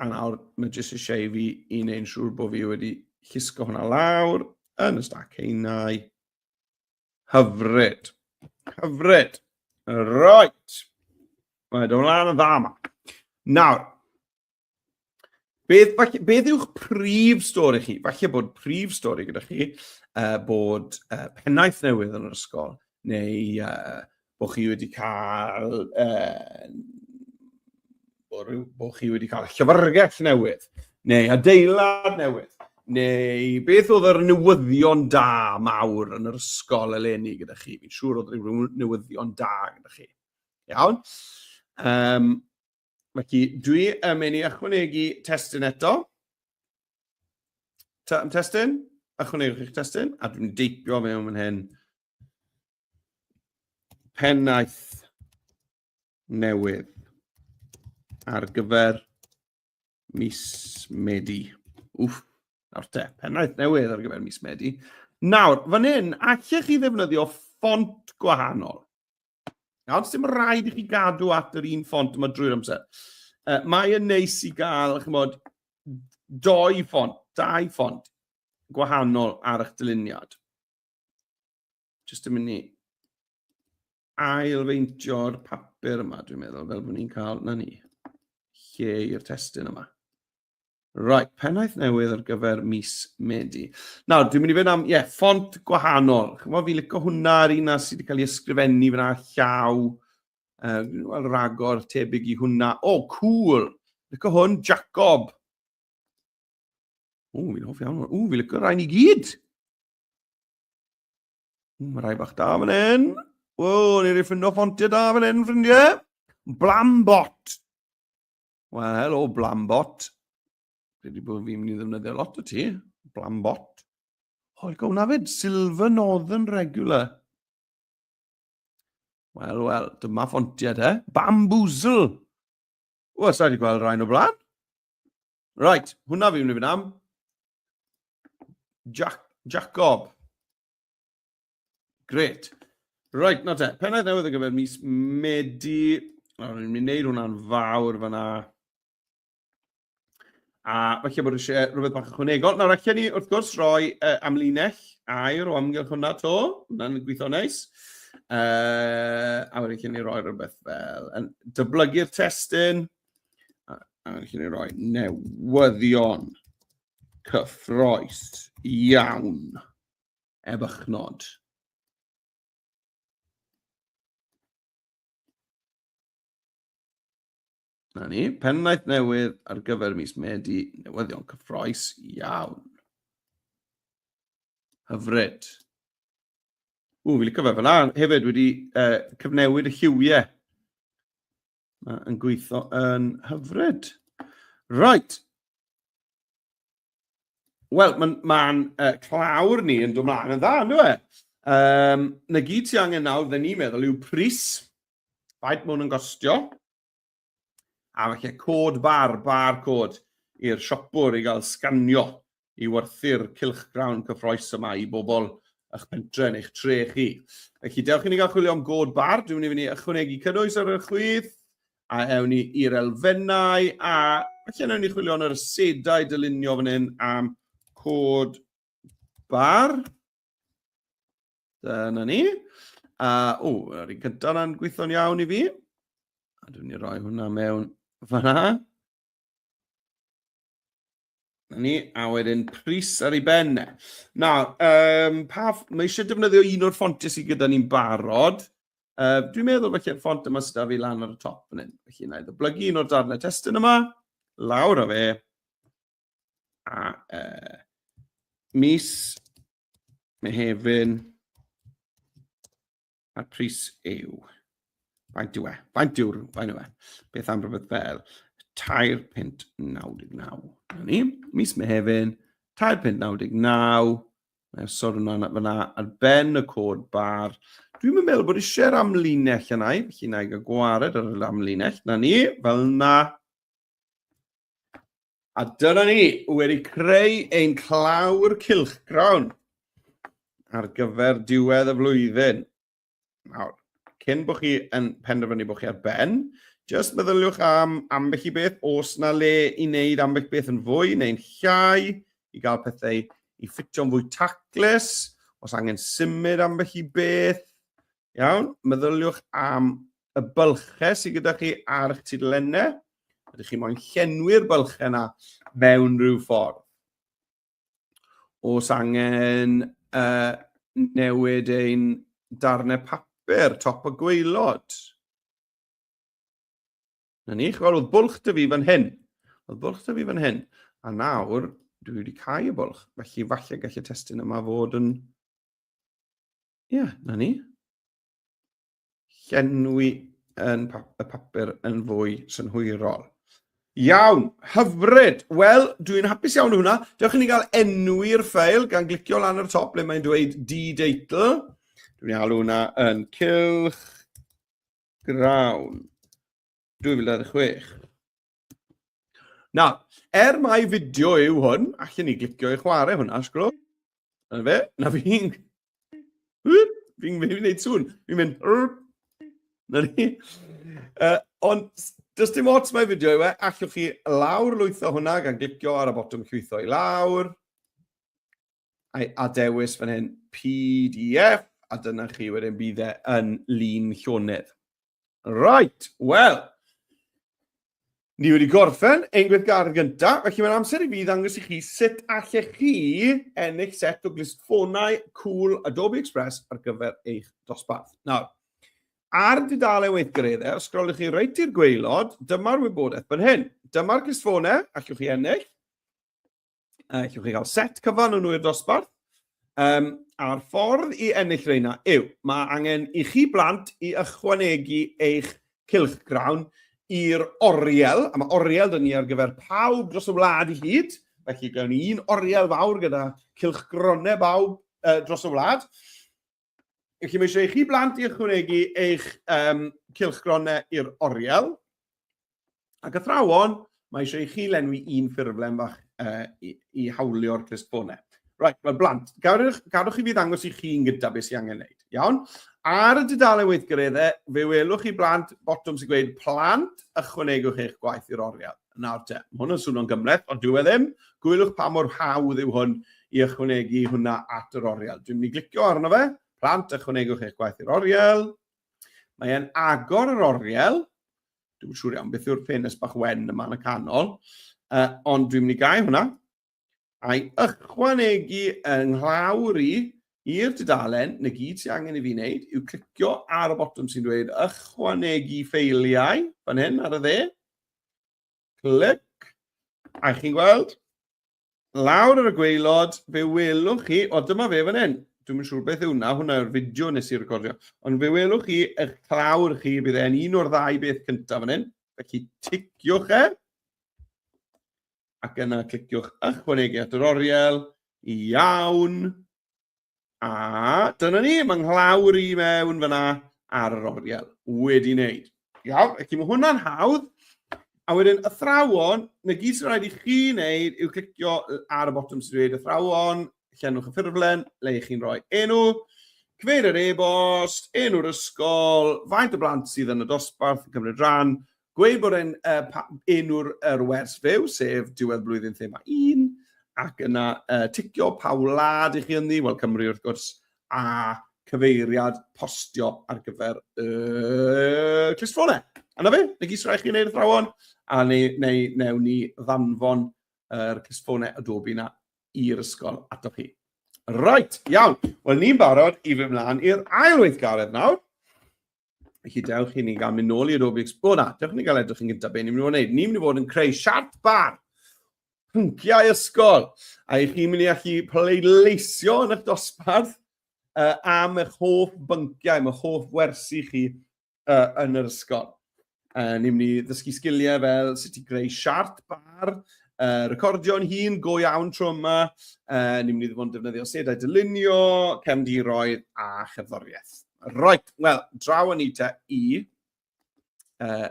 A nawr, mae jyst eisiau i fi i wneud yn siŵr bod fi wedi llusgo hwnna lawr yn y stac heinau. Hyfryd. Hyfryd. Right. Mae dy ymlaen yn dda yma. Nawr, beth, beth yw'ch prif stori chi? Falle bod prif stori gyda chi uh, bod uh, pennaeth newydd yn yr ysgol, neu uh, bod chi wedi cael uh, bod chi wedi cael llyfrgell newydd, neu adeilad newydd, neu beth oedd yr newyddion da mawr yn yr ysgol eleni gyda chi? Fi'n siŵr oedd rhyw newyddion da gyda chi. Iawn? Um, felly, dwi yn mynd i ychwanegu testyn eto. Testyn? Ychwanegwch eich testyn, a dwi'n deipio mewn fan hyn. pennaeth newydd ar gyfer mis Medi. Wff, nawr te, pennaeth newydd ar gyfer mis Medi. Nawr, fan hyn, allech chi ddefnyddio ffont gwahanol. Nawr, sy'n rhaid i chi gadw at yr un ffont yma drwy'r amser. Uh, mae yn neis i gael, chymod, doi ffont, dau ffont gwahanol ar eich dyluniad. Just yn mynd i ailfeintio'r papur yma, dwi'n meddwl, fel bod ni'n cael, na ni, lle i'r testyn yma. Right, pennaeth newydd ar gyfer mis Medi. Nawr, dwi'n mynd i fynd am, ie, yeah, ffont gwahanol. Chyfo fi licio hwnna ar un sydd wedi cael ei ysgrifennu fyna llaw. Uh, Wel, ragor tebyg i hwnna. O, oh, cool! Licio hwn, Jacob. O, fi'n hoff iawn. O, fi'n licio rhain i gyd. Mae rhai bach da fan hyn. Wel, ni'n ei ffindo ffontiau da fan hyn, ffrindiau. Blambot. Wel, helo, Blambot. Dwi wedi bod fi'n mynd i ddefnyddio lot o ti. Blambot. Hoi, gawn na fyd, Silver Northern Regular. Wel, wel, dyma ffontiau te. Bamboozle. Wel, sa'i wedi gweld rhain o blaen. Right, hwnna fi'n mynd am. Jack, Jacob. Great. Right, na te. Pennaeth newydd ar gyfer mis Medi. Nawr, ni'n mynd i wneud hwnna'n fawr fyna. A falle bod eisiau rhywbeth bach ychwanegol. Nawr, allan ni wrth gwrs roi uh, amlinell air o amgylch hwnna to. Hwna'n gweithio neis. Uh, a wedyn allan ni roi rhywbeth fel yn dyblygu'r testyn. a, a chi ni roi newyddion cyffroes iawn efychnod. Na ni, pennaeth newydd ar gyfer mis Medi, newyddion cyffroes iawn. Hyfryd. Ww, fi licio fe fel Hefyd wedi uh, cyfnewid y lliwiau. Mae'n gweithio yn hyfryd. Right. Wel, mae'n ma uh, clawr ni yn dod mlaen yn dda, ynddo e? Um, na gyd ti angen nawr, fe ni'n meddwl, yw pris. Faint mwyn yn gostio. A falle cod bar, bar cod i'r siopwr i gael sganio i werthu'r cylchgrawn cyffroes yma i bobl ych pentre neu'ch tre chi. Felly, dewch i ni gael chwilio am god bar. Dwi'n mynd i fynd ychwanegu cynnwys ar y chwith, a ewn ni i'r elfennau, a felly ewn ni chwilio yn yr asedau dylunio fan hyn am cod bar. Dyna ni. A, o, yr un gyda na'n gweithio'n iawn i fi. A dwi'n ni roi hwnna mewn fanna. Na ni, a wedyn pris ar ei ben. E. Na, um, pa, mae eisiau defnyddio un o'r ffontiau sydd gyda ni'n barod. Uh, dwi'n meddwl felly'r ffont yma sydd â fi lan ar y top yn hyn. Felly na i ddyblygu un o'r darnau testyn yma, lawr a fe, a uh, mis, Mehefin, A'r pris yw... Faint yw e? Faint yw'r... Faint yw e? Beth am rhywbeth fel 3.99. Dyna ni. Mis Mehefin, 3.99. Mae'n sôn hwnna fyna ar ben y cod bar. Dwi'n meddwl bod eisiau'r amlinell yna i, felly na i gael gwared ar yr amlinell. Na ni, fel na. A dyna ni, wedi creu ein clawr cilchgrawn ar gyfer diwedd y flwyddyn. Nawr, cyn bod chi yn penderfynu bod chi ar ben, jyst meddyliwch am ambell i beth, os na le i wneud ambell beth yn fwy neu'n llai, i gael pethau i ffitio'n fwy taclus, os angen symud ambell i beth, Iawn, meddyliwch am y bylchau sydd gyda chi ar eich tudalennau. Ydych chi moyn llenwi'r bylchau yna mewn rhyw ffordd? Os angen uh, newid ein darnau papur, top o gweilod. Na ni, chwal, oedd bwlch dy fi fan hyn. Oedd bwlch dy fi fan hyn. A nawr, dwi wedi cael y bwlch. Felly, falle gallu testyn yma fod yn Ie, yeah, na ni. Llenwi yn pa y papur yn fwy synhwyrol. Iawn, hyfryd. Wel, dwi'n hapus iawn hwnna. Dewch i ni gael enw i'r ffeil gan glicio lan ar top le mae'n dweud d-deitl. Dwi'n ei alw hwnna yn cylch grawn. 2026. Na, er mai fideo yw hwn, allan ni glicio i chwarae hwnna, sgro. Na fe, na fi'n... Fi'n gwneud sŵn, fi'n mynd... Na ni. Uh, ond Does dim ots mae fideo yw e, allwch chi lawr lwytho hwnna gan glicio ar y botwm llwytho i lawr. I adewis fan hyn PDF, a dyna chi wedyn bydd e yn lun llonydd. Right, wel, ni wedi gorffen ein gweithgaredd gyntaf, felly mae'n amser i fi ddangos i chi sut allech chi ennill set o glisffonau cool Adobe Express ar gyfer eich dosbarth. Nawr, ar dudalen weithgareddau, os grolwch chi reit i'r gweilod, dyma'r wybodaeth fan hyn. Dyma'r glisffonau, allwch chi ennill. uh, chi gael set cyfan yn wy'r dosbarth. Um, a'r ffordd i ennill reina yw, mae angen i chi blant i ychwanegu eich cilch grawn i'r oriel, a mae oriel dyn ni ar gyfer pawb dros y wlad i hyd, felly gawn ni un oriel fawr gyda cilch gronau bawb uh, dros y wlad. Felly mae eisiau i chi blant i ychwanegu eich um, cilchgronau i'r oriel. Ac athrawon, mae eisiau i chi lenwi un ffurflen fach uh, i, i hawlio'r clustfonau. Right, wel blant, gadwch, gadwch i fi ddangos i chi'n gyda beth sy'n angen wneud. Iawn? Ar y dudalen weithgareddau, fe welwch chi blant botwm sy'n gweud plant ychwanegwch eich gwaith i'r oriel. Nawr te, mae hwn yn swnio'n gymhleth, ond dyw e ddim. Gwylwch pa mor hawdd yw hwn i ychwanegu hwnna at yr oriel. Dwi'n mynd i glicio arno fe. Plant, ychwanegwch eich gwaith i'r oriel. Mae e'n agor yr oriel. Dwi'n siŵr iawn beth yw'r ffenest bach wen yma yn y canol. Uh, ond dwi'n mynd i gau hwnna. a'i ychwanegu yng nglawr i i'r dudalen, 'na gyd sydd angen i fi wneud yw clicio ar y botwm sy'n dweud ychwanegu ffeiliau, fan hyn ar y dde, clic, a chi'n gweld, lawr ar y gweilod, fe welwch chi, o dyma fe fan hyn, dwi'n siŵr beth yw hwnna, hwnna yw'r fideo nes i recordio, ond fe welwch chi, eich clawr chi, bydd e'n un o'r ddau beth cyntaf fan hyn, felly ticiwch e, ac yna cliciwch ychwanegu at yr oriel, iawn, a dyna ni, mae nghlawr i mewn fyna ar yr oriel, wedi wneud. Iawn, ac mae hwnna'n hawdd, a wedyn athrawon, na gyd sy'n rhaid i chi wneud yw clicio ar y botwm sy'n dweud athrawon, llenwch y ffurflen, le i chi'n rhoi enw, cyfeir yr e-bost, enw'r ysgol, faint o blant sydd yn y dosbarth yn cymryd rhan, Gweud bod e'n uh, enw'r er wers fyw, sef diwedd blwyddyn thema 1, ac yna uh, ticio pa wlad i chi ynddi, wel Cymru wrth gwrs, a cyfeiriad postio ar gyfer y uh, clustffonau. Yna fe, neu gys rhaid chi wneud y thrawon, a neu, neu, neu ni ddanfon yr uh, clustffonau Adobe na i'r ysgol ato chi. Right, iawn. Wel, ni'n barod i fy mlaen i'r ail weithgaredd nawr. Felly, dewch i ni gael mynd nôl i'r Rubik's Cube. O na, dewch i ni gael edrych yn gyntaf beth ni'n mynd i fod yn gwneud. Ni'n mynd i fod yn creu siart bar, pynciau ysgol, a i chi'n mynd i allu pleidleisio yn eich dosbarth uh, am eich hoff bynciau, am eich hoff wersi chi uh, yn yr ysgol. Uh, ni'n mynd i ddysgu sgiliau fel sut i greu siart bar, uh, recordio'n hun, go iawn tro yma. Uh, ni'n mynd i ddod yn defnyddio sedau dylunio, cefndiroedd a chefddoriaeth. Right, wel, draw yn eita i uh,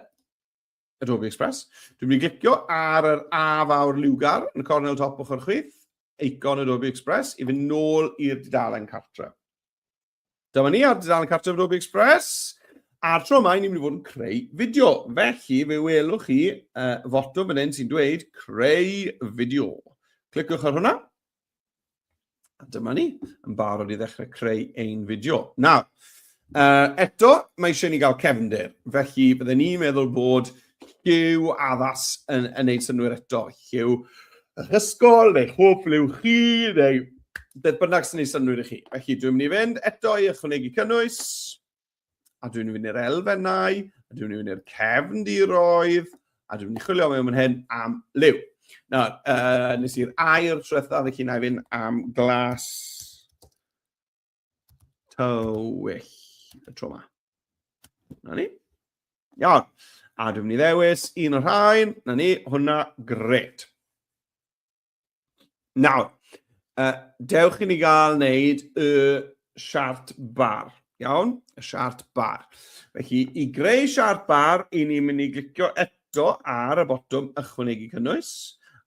Adobe Express. Dwi'n mynd i glicio ar yr A fawr liwgar yn y cornel top ochr chwith, eicon Adobe Express, i fynd nôl i'r dudalen cartre. Dyma ni ar dudalen cartref Ruby Express. A'r tro yma, ni'n mynd i fod yn creu fideo. Felly, fe welwch chi uh, foto fan hyn sy'n dweud creu fideo. Cliciwch ar hwnna. A dyma ni, yn barod i ddechrau creu ein fideo. Nawr, uh, eto, mae eisiau ni gael cefnder. Felly, byddwn ni'n meddwl bod Lliw addas yn, yn neud synwyr eto. Lliw yr ysgol, neu chwp, liw chi, neu beth bynnag sy'n neud synwyr i chi. Felly, dwi'n mynd i fynd eto i ychwanegu cynnwys, a dwi'n mynd i'r elfennau, a dwi'n mynd i'r cefn diroedd, a dwi'n mynd i chwilio mewn hyn am liw. Nawr, uh, nes i'r air trwetha, felly na i fynd am glas tywyll y tro yma. Na ni. Iawn. A dwi'n mynd i ddewis un o'r rhain. Na ni, hwnna, gret. Nawr, uh, dewch i ni gael wneud y siart bar. Iawn? Y siart bar. Felly, i greu siart bar, i ni'n mynd i glicio eto ar y botwm ychwanegu cynnwys.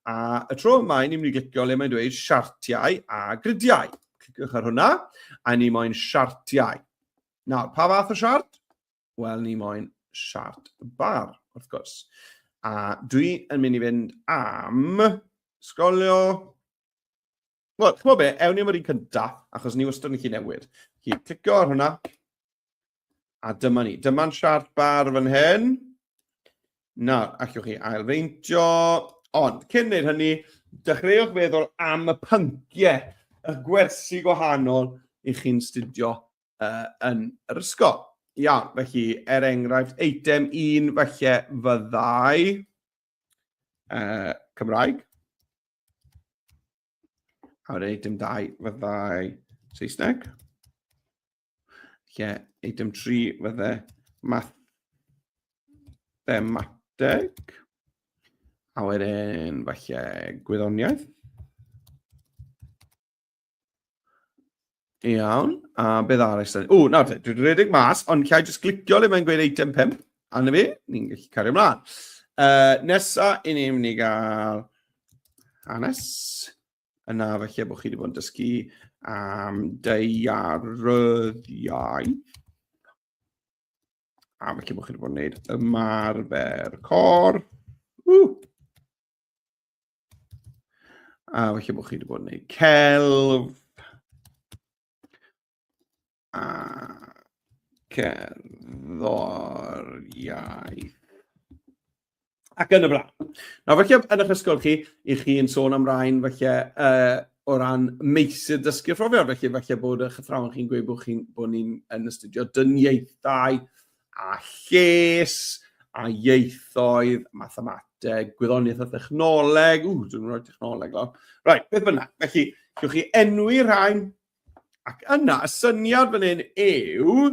A y tro yma, i ni'n mynd i glicio le mae'n dweud siartiau a gridiau. Cliciwch ar hwnna, a ni moyn siartiau. Nawr, pa fath o siart? Wel, ni moyn siart bar, wrth gwrs. A dwi yn mynd i fynd am sgolio... Wel, chymod be, ewn ni am yr un cyntaf, achos ni wastad yn gallu newid. Felly, clicio ar hwnna. A dyma ni. Dyma'n siart bar fan hyn. Nawr, allwch chi ailfeintio. Ond, cyn wneud hynny, dechreuwch feddwl am y pynciau, y gwersi gwahanol i chi'n studio uh, yn yr ysgol. Iawn, felly, er enghraifft, eitem un felly fyddai uh, Cymraeg. A wedyn eitem dau fyddai Saesneg. Lle, eitem 3 fydde mathemateg. A wedyn, falle, gwyddoniaeth. Iawn, a beth arall? O, nawr te, dwi'n rhedeg mas, ond lle jyst clicio le mae'n gweud eitem 5, a na fi, ni'n gallu cario ymlaen. Uh, nesa, i ni'n mynd i gael hanes. yna felly bod chi wedi bod yn dysgu am deiaryddiau. A felly bod chi wedi bod yn gwneud ymarfer cor. Uh! A felly bod chi wedi bod yn gwneud celf. a cerddoriaeth. Ac yn y blaen. Nawr, felly, yn eich ysgol chi, i chi yn sôn am rhain, felly, uh, o ran meysydd dysgu phrofiad, felly felly bod eich athrawon chi'n gweud bod, chi, bod ni'n yn astudio dyniaethau a lles a ieithoedd, mathemateg, gwyddoniaeth a thechnoleg, ww, dwi'n rhoi technoleg lawr. Right, beth bynnag, felly, gywch chi enwi rhain, Ac yna, y syniad fan hyn yw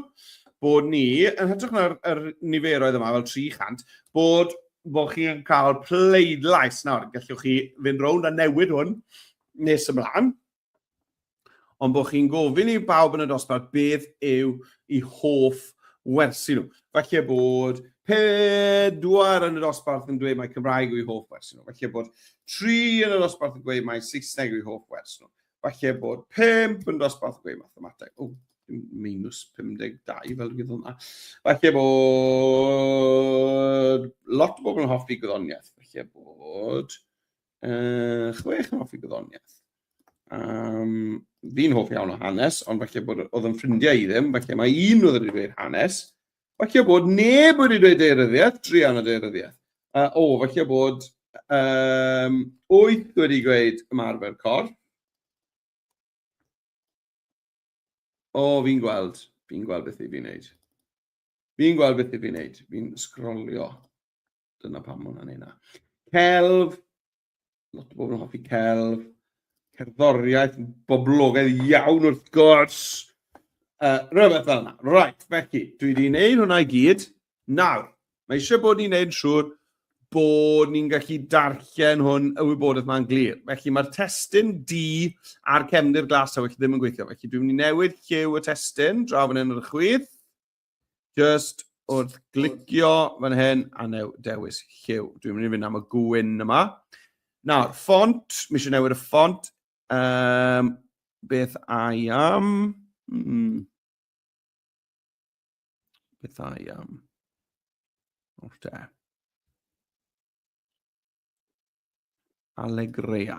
bod ni, yn hytrach na'r er niferoedd yma, fel 300, bod, bod chi'n cael pleidlais nawr. Gallwch chi fynd rownd a newid hwn nes ymlaen. Ond bod chi'n gofyn i bawb yn y dosbarth beth yw i hoff wersi nhw. Felly bod pedwar yn y dosbarth yn dweud mae Cymraeg yw i hoff wersi nhw. Felly bod tri yn y dosbarth yn dweud mae Saesneg yw i hoff wersi nhw. falle bod 5 yn dosbarth gwe mathemateg. O, minus 52 fel rhywbeth yna. Falle bod lot o bobl yn hoffi gwyddoniaeth. Falle bod uh, chwech yn hoffi gwyddoniaeth. Um, fi'n hoff iawn o hanes, ond falle bod oedd yn ffrindiau i ddim, falle mae un oedd wedi dweud hanes, Falle bod neb wedi dweud deiryddiaeth, druan o deiryddiaeth. Uh, o, falle bod um, wyth wedi gweud ymarfer corff. O, fi'n gweld, fi'n gweld beth i fi'n neud. Fi'n gweld beth i fi'n neud, fi'n sgrolio. Dyna pam mae hwnna'n ei na. Celf, lot o bobl yn hoffi celf. Cerddoriaeth, boblogaidd iawn wrth gwrs. Uh, rhywbeth fel yna. Right, felly, dwi wedi gwneud hwnna i gyd. Nawr, mae eisiau bod ni'n gwneud siŵr bod ni'n gallu darllen hwn y wybodaeth mae'n glir. Felly mae'r testyn D a'r cefndir glas a felly ddim yn gweithio. Felly dwi'n mynd i newid lliw y testyn draw fan hyn ar y chwith. Just wrth glicio fan hyn a new dewis lliw. Dwi'n mynd i fynd am y gwyn yma. Nawr, ffont, mi eisiau newid y ffont. Um, beth I am? Hmm. Beth I am? O'r te. Allegrea.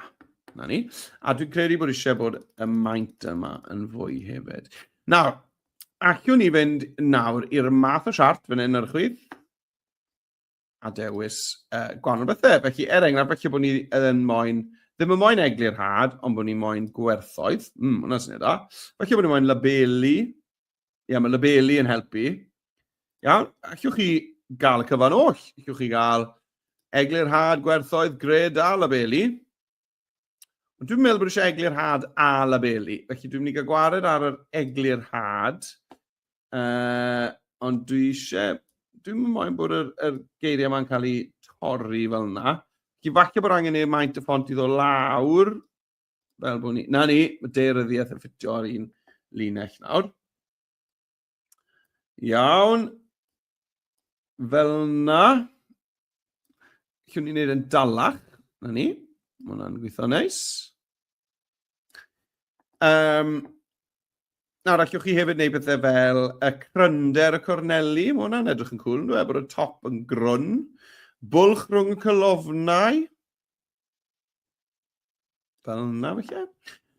Na ni. A dwi'n credu bod eisiau bod y maint yma yn fwy hefyd. Nawr, allwn ni fynd nawr i'r math o siart fan hyn ar y chwyd a dewis uh, gwahanol bethau. Felly, er enghraifft, felly bod ni yn moyn, ddim yn moyn eglurhad, ond bod ni moyn gwerthoedd. Mm, hwnna sy'n edrych. Felly bod ni moyn labelu, Ia, mae labelu yn helpu. Iawn, allwch chi gael y cyfan oll. Allwch chi gael eglur had, gwerthoedd, gred a labelu. Ond dwi'n meddwl bod eisiau eglur had a labelu. Felly dwi'n mynd i gael gwared ar yr eglur had. Uh, ond dwi eisiau... Dwi'n mynd moyn bod yr, yr geiriau yma'n cael eu torri fel yna. Felly falle bod angen ei maint y ffont i ddod lawr. Fel bod ni... Na ni, mae deiryddiaeth yn ffitio ar un linell nawr. Iawn. Fel na. Llwn ni'n neud yn dalach. Na ni. Mae hwnna'n gweithio neis. Um, nawr, allwch chi hefyd wneud pethau fel y crynder y corneli. Mae hwnna'n edrych yn cool, yn dweud, bod y top yn grwn. Bwlch rhwng y cylofnau. Fel yna, felly.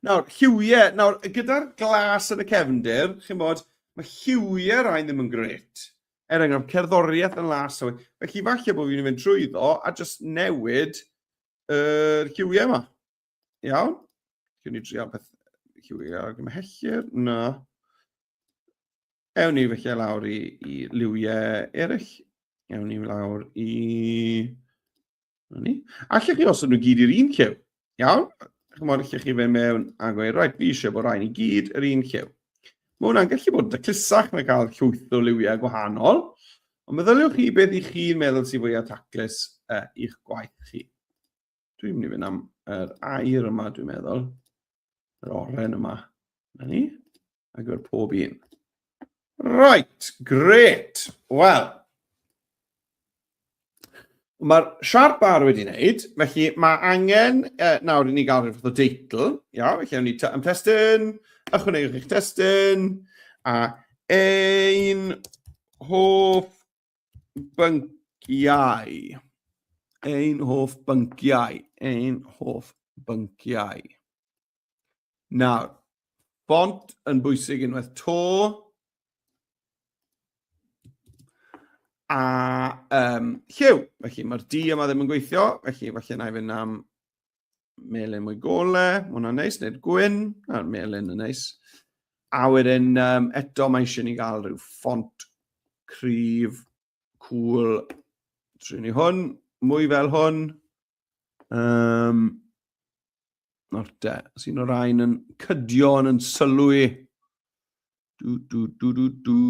Nawr, lliwiau, nawr, gyda'r glas yn y cefndir, chi'n bod, mae lliwiau rhain ddim yn gret. Er enghraifft, cerddoriaeth yn las. Felly, falle bod fi'n mynd trwy ddo a jyst newid yr er lliwiau yma. Iawn? Dwi'n ni drio beth lliwiau ar gymhellir. Na. Ewn ni felly lawr i, i liwiau eraill. Ewn ni lawr i... Ewn ni. Allech chi os nhw gyd i'r un llew. Iawn? Chymod, allech chi fe mewn a gweud, rhaid, fi eisiau bod rhaid i gyd yr un llew. Mae hwnna'n gallu bod yn daclusach na cael llwyth o liwiau gwahanol, ond meddyliwch chi beth i chi'n meddwl sy'n fwyaf taclus uh, i'ch gwaith chi. Dwi'n mynd i fynd am yr air yma, dwi'n meddwl. Yr oren yma. Na ni. Ac gyfer pob un. Right, great. Wel, mae'r siarp bar wedi wneud, felly mae angen uh, nawr i ni gael rhywbeth o deitl. Iawn, felly awn ni am testyn, ychwanegwch eich testyn, a ein hoff bynciau. Ein hoff bynciau. Ein hoff bynciau. Nawr, bont yn bwysig unwaith to. A um, lliw. Felly mae'r di yma ddim yn gweithio. Felly falle na i fynd am melyn mwy gole, mae hwnna'n neis, neu'r gwyn, a'r melyn yn neis. A wedyn um, eto mae eisiau ni gael rhyw ffont cryf, cool, trin ni hwn, mwy fel hwn. Um, Nawr te, os un o'r ein yn cydio yn yn sylw i. Du, du, du, du, du.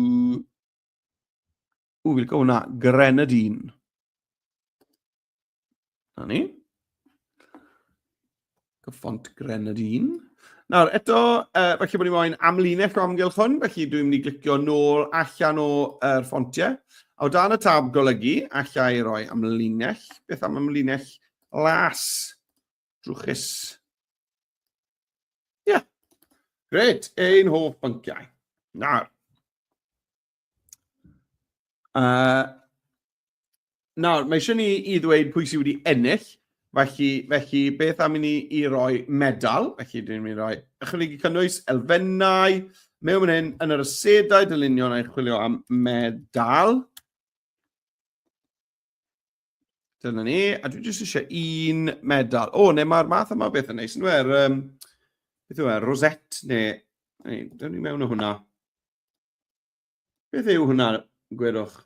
Ww, fi'n cael hwnna, Grenadine. Na ni. Cyffont Grenadine. Nawr, eto, uh, felly bod ni moyn amlinell o amgylch hwn, felly dwi'n mynd i glicio nôl allan o'r er ffontiau. A o dan y tab golygu, allai i roi amlinell. Beth am amlinell las drwchus? Ie. Yeah. Gret, ein hoff bynciau. Nawr, Uh, nawr, mae eisiau ni i ddweud pwy sydd wedi ennill, felly, felly beth am i ni i roi medal, felly dyn ni'n rhoi ychwanegu cynnwys, elfennau, mewn mynd hyn, yn yr ysedau dylunion a'i chwilio am medal. Dyna ni, a dwi jyst eisiau un medal. O, neu mae'r math yma beth yn neis, yn dweud, um, beth yw e, rosette, neu, neu, dyn ni mewn o hwnna. Beth yw hwnna, gwerwch?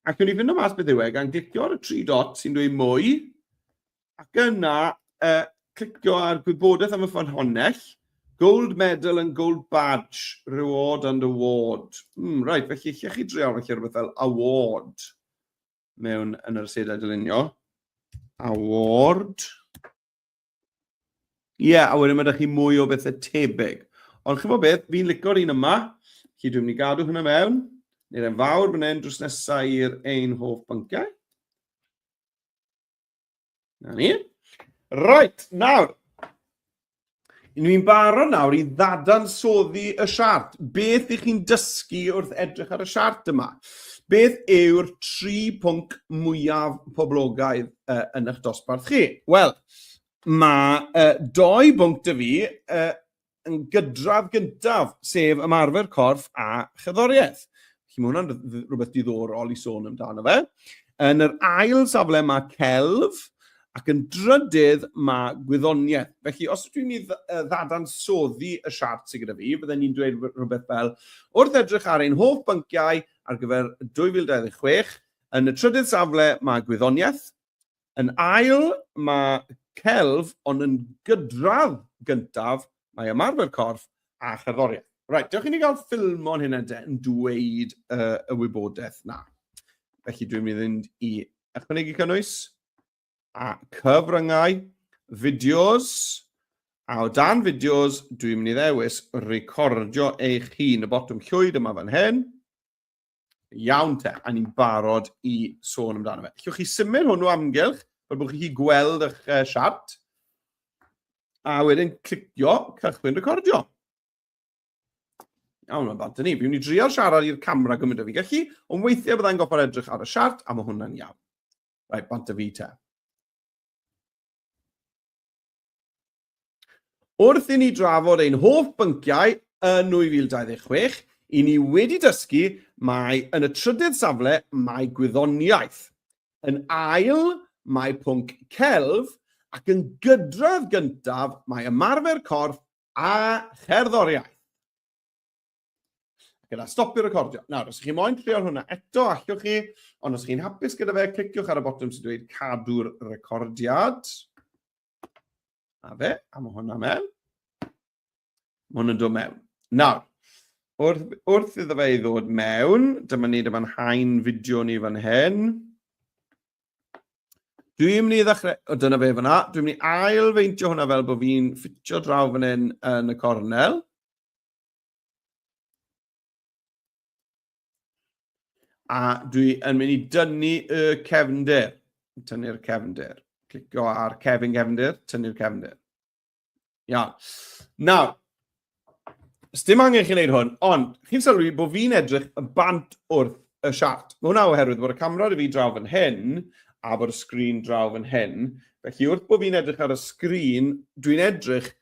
Ac o'n i fynd o mas beth yw e, gan glicio ar y tri dot sy'n dweud mwy, ac yna uh, clicio ar gwybodaeth am y ffynhonnell, Gold medal and gold badge, reward and award. Mm, right, felly lle chi dreol, felly rhywbeth fel award mewn yn yr asedau dylunio. Award. Ie, yeah, a wedyn mae ydych chi mwy o bethau tebyg. Ond chi'n fawr beth, fi'n licio'r un yma. Felly dwi'n mynd i gadw hynna mewn. Neu'r e'n fawr fan hyn drws nesau i'r ein hoff bynciau. Na ni. Right, nawr. Ni'n barod nawr i ddadansoddi y siart. Beth ych chi'n dysgu wrth edrych ar y siart yma? Beth yw'r tri pwnc mwyaf poblogaidd uh, yn eich dosbarth chi? Wel, mae uh, doi bwnc dy fi uh, yn gydradd gyntaf, sef ymarfer corff a chyddoriaeth. Felly mae hwnna'n rhywbeth diddorol i sôn amdano fe. Yn yr ail safle mae celf, Ac yn drydydd, mae gwyddoniaeth. Felly, os ydw i'n mynd i ddadansoddi y siart sydd gyda fi, bydden i'n dweud rhywbeth fel, wrth edrych ar ein holl bynciau ar gyfer 2026, yn y trydydd safle mae gwyddoniaeth, yn ail mae celf, ond yn gydradd gyntaf mae ymarfer corff a cherddoriaeth. Reit, dewch i ni gael ffilmon hynna de yn dweud y wybodaeth na. Felly dwi'n mynd i fynd i ychwanegu cynnwys. a cyfryngau, fideos, a o dan fideos, dwi'n mynd i ddewis recordio eich hun, y botwm llwyd yma fan hyn. Iawn te, a ni'n barod i sôn amdano fe. Llwch chi symud hwnnw amgylch, fel bod chi'n gweld eich uh, siart, a wedyn clicio cychwyn recordio. Iawn, mae'n bant ni. Fi'n ni drio siarad i'r camera gymryd o fi gallu, ond weithiau byddai'n goffa'r edrych ar y siart, a mae hwnna'n iawn. Right, bont y fi ta. Wrth i ni drafod ein hoff bynciau yn 2026, i ni wedi dysgu mae yn y trydydd safle mae gwyddoniaeth. Yn ail mae pwnc celf ac yn gydradd gyntaf mae ymarfer corff a cherddoriaeth. Gyda stopio recordio. Nawr, os ych chi moyn trio hwnna eto, allwch chi, ond os chi'n hapus gyda fe, cliciwch ar y botwm sy'n dweud cadw'r recordiad. A fe, a mae hwnna mewn. Mae hwnna'n dod mewn. Nawr, wrth, wrth iddo fe i ddod mewn, dyma ni, dyma'n hain fideo ni fan hyn. Dwi'n mynd i ddechrau, o dyna fe fyna, dwi'n mynd i ail feintio hwnna fel bod fi'n ffitio draw fan hyn yn y cornel. A dwi yn mynd i dynnu y cefnder. Tynnu'r cefnder. Clicio ar cefn gefnder, tynnu'r cefnder. Iawn. Nawr, dim angen chi'n gwneud hwn, ond chi'n sylwi bod fi'n edrych yn bant wrth y siart. Mae hwnna oherwydd bod y camera dy fi draw fan hyn a bod y sgrin draw fan hyn. Felly wrth bod fi'n edrych ar y sgrin, dwi'n edrych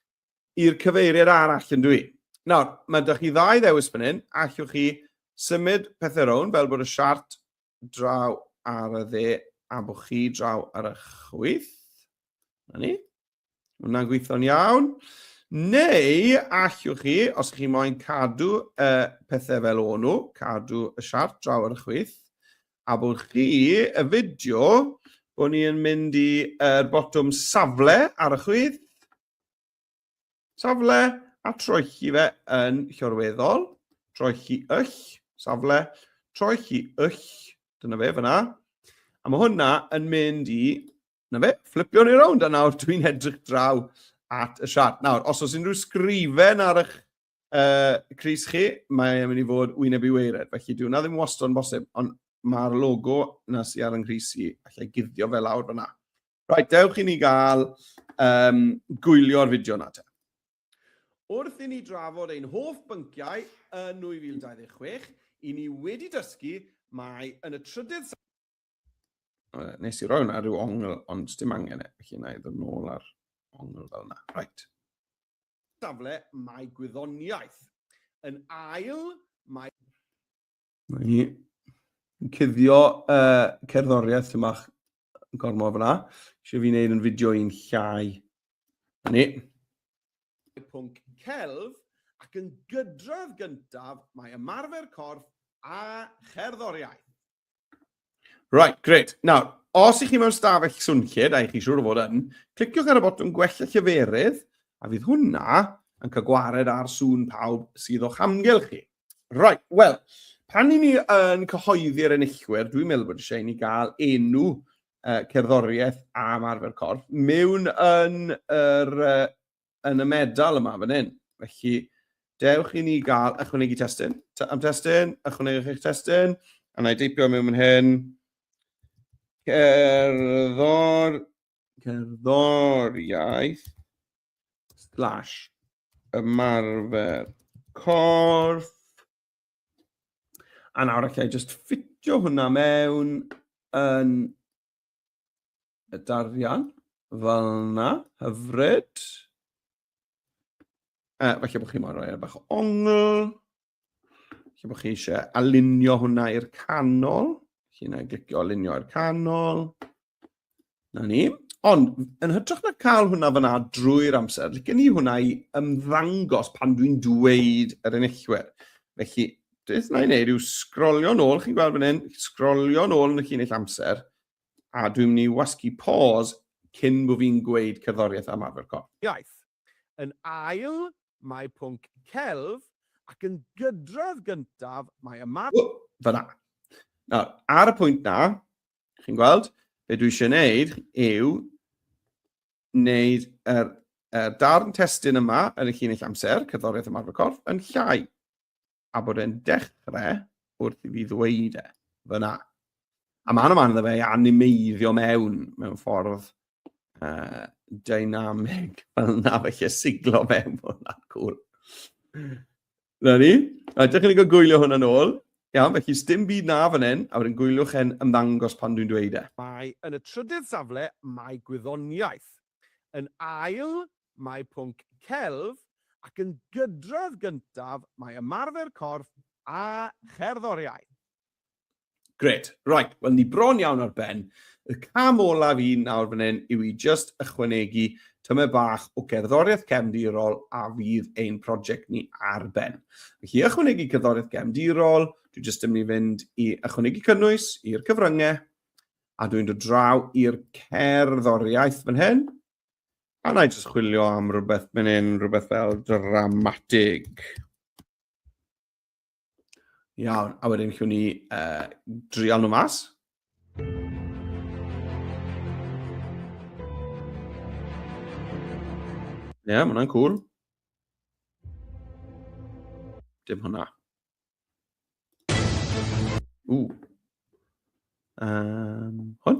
i'r cyfeiriad arall, yn dwi i. Nawr, mae da chi ddau ddewis fan hyn, allwch chi symud pethau rown, fel bod y siart draw ar y dde a bod chi draw ar y chwyth. Na ni. Hwna'n gweithio'n iawn. Neu allwch chi, os chi moyn cadw y pethau fel o'n nhw, cadw y siart draw ar y chwyth, a bod chi y fideo bod ni'n mynd i'r botwm safle ar y chwyth, Safle a troelli fe yn llorweddol, troelli yll, safle, troelli yll, dyna fe fyna. A mae hwnna yn mynd i, na fe, fflipio ni rownd, a nawr dwi'n edrych draw at y siart. Nawr, os oes unrhyw sgrifen ar eich Uh, Cris chi, mae'n mynd i fod wyneb i weired, felly dwi'n na ddim wastad yn bosib, ond mae'r logo na sy'n ar yng Nghris i, allai guddio fel awr fyna. Right, dewch i ni gael um, gwylio'r fideo na te. Wrth i ni drafod ein hoff bynciau yn 2026, i ni wedi dysgu mae yn y trydydd... Nes i roi hwnna rhyw ongl, ond dim angen e, felly na i ddod nôl ar ongl fel yna. Right. safle mae gwyddoniaeth. Yn ail, mae... Mae hi yn cuddio uh, cerddoriaeth sy'n bach yn gormod fyna. Eisiau fi wneud yn fideo i'n llai. Ni. Mae pwnc celf ac yn gydradd gyntaf mae ymarfer corff a cherddoriaeth. Right, great. Nawr, os ych chi mewn stafell swnllyd, a ych chi siŵr o fod yn, cliciwch ar y botwm gwella lleferydd, a fydd hwnna yn cael gwared ar sŵn pawb sydd o'ch amgylch chi. Right, wel, pan i ni yn cyhoeddi'r enillwyr, dwi'n meddwl bod eisiau i ni gael enw uh, cerddoriaeth am arfer corff mewn yn yr uh, yn y medal yma fan hyn. Felly, dewch i ni gael ychwanegu testyn. Am testyn, ychwanegwch eich testyn, a na i deipio mewn fan hyn. Cerddor, cerddoriaeth, slash, ymarfer corff. A nawr allai just ffitio hwnna mewn yn y darian fel yna, hyfryd. Uh, falle bod chi moyn rhoi e bach o ongl. Falle bod chi eisiau alinio hwnna i'r canol. Chi'n ei glicio alinio i'r canol. Na ni. Ond, yn hytrach na cael hwnna fyna drwy'r amser, licen ni hwnna i ymddangos pan dwi'n dweud yr enillwyr. Felly, beth na i wneud yw sgrolio nôl, chi'n gweld fan hyn, sgrolio nôl yn y llinell amser, a dwi'n mynd i wasgu pause cyn bod fi'n gweud cerddoriaeth am arfer corff. Iaith. Yn ail, mae pwnc celf, ac yn gydrodd gyntaf, mae ymarfer... Oh, fyna. Nawr, ar y pwynt na, chi'n gweld, be dwi eisiau gwneud yw wneud yr uh, darn testun yma yn y llinell amser, cerddoriaeth ymarfer corff, yn llai, a bod e'n dechrau wrth i fi ddweud e, fyna. A mae'n yma iddo fe i animeiddio mewn, mewn ffordd uh, dynamig, fel na felly siglo mewn bod hwnna'n cool. Na ni. Right, dych chi'n gwylio hwn yn ôl. Iawn, felly sdim byd na fan hyn, a wedyn gwyliwch e'n ymddangos pan dwi'n dweud e. Mae yn y trydydd safle, mae gwyddoniaeth. Yn ail, mae pwnc celf, ac yn gydredd gyntaf, mae ymarfer corff a cherddoriaeth. Gret. Right, wel ni bron iawn ar ben. Y cam olaf i nawr fan hyn yw i just ychwanegu tymer bach o gerddoriaeth cefndirol a fydd ein prosiect ni ar ben. Felly i ychwanegu cerddoriaeth gefndirol, dwi just yn mynd i fynd i ychwanegu cynnwys i'r cyfryngau a dwi'n dod draw i'r cerddoriaeth fan hyn. A na i just chwilio am rhywbeth fan hyn, rhywbeth fel dramatig. Iawn, a wedyn chiwn ni uh, drial nhw mas. Ie, yeah, mae hwnna'n cool. Dim hwnna. Ww. Um, hwn?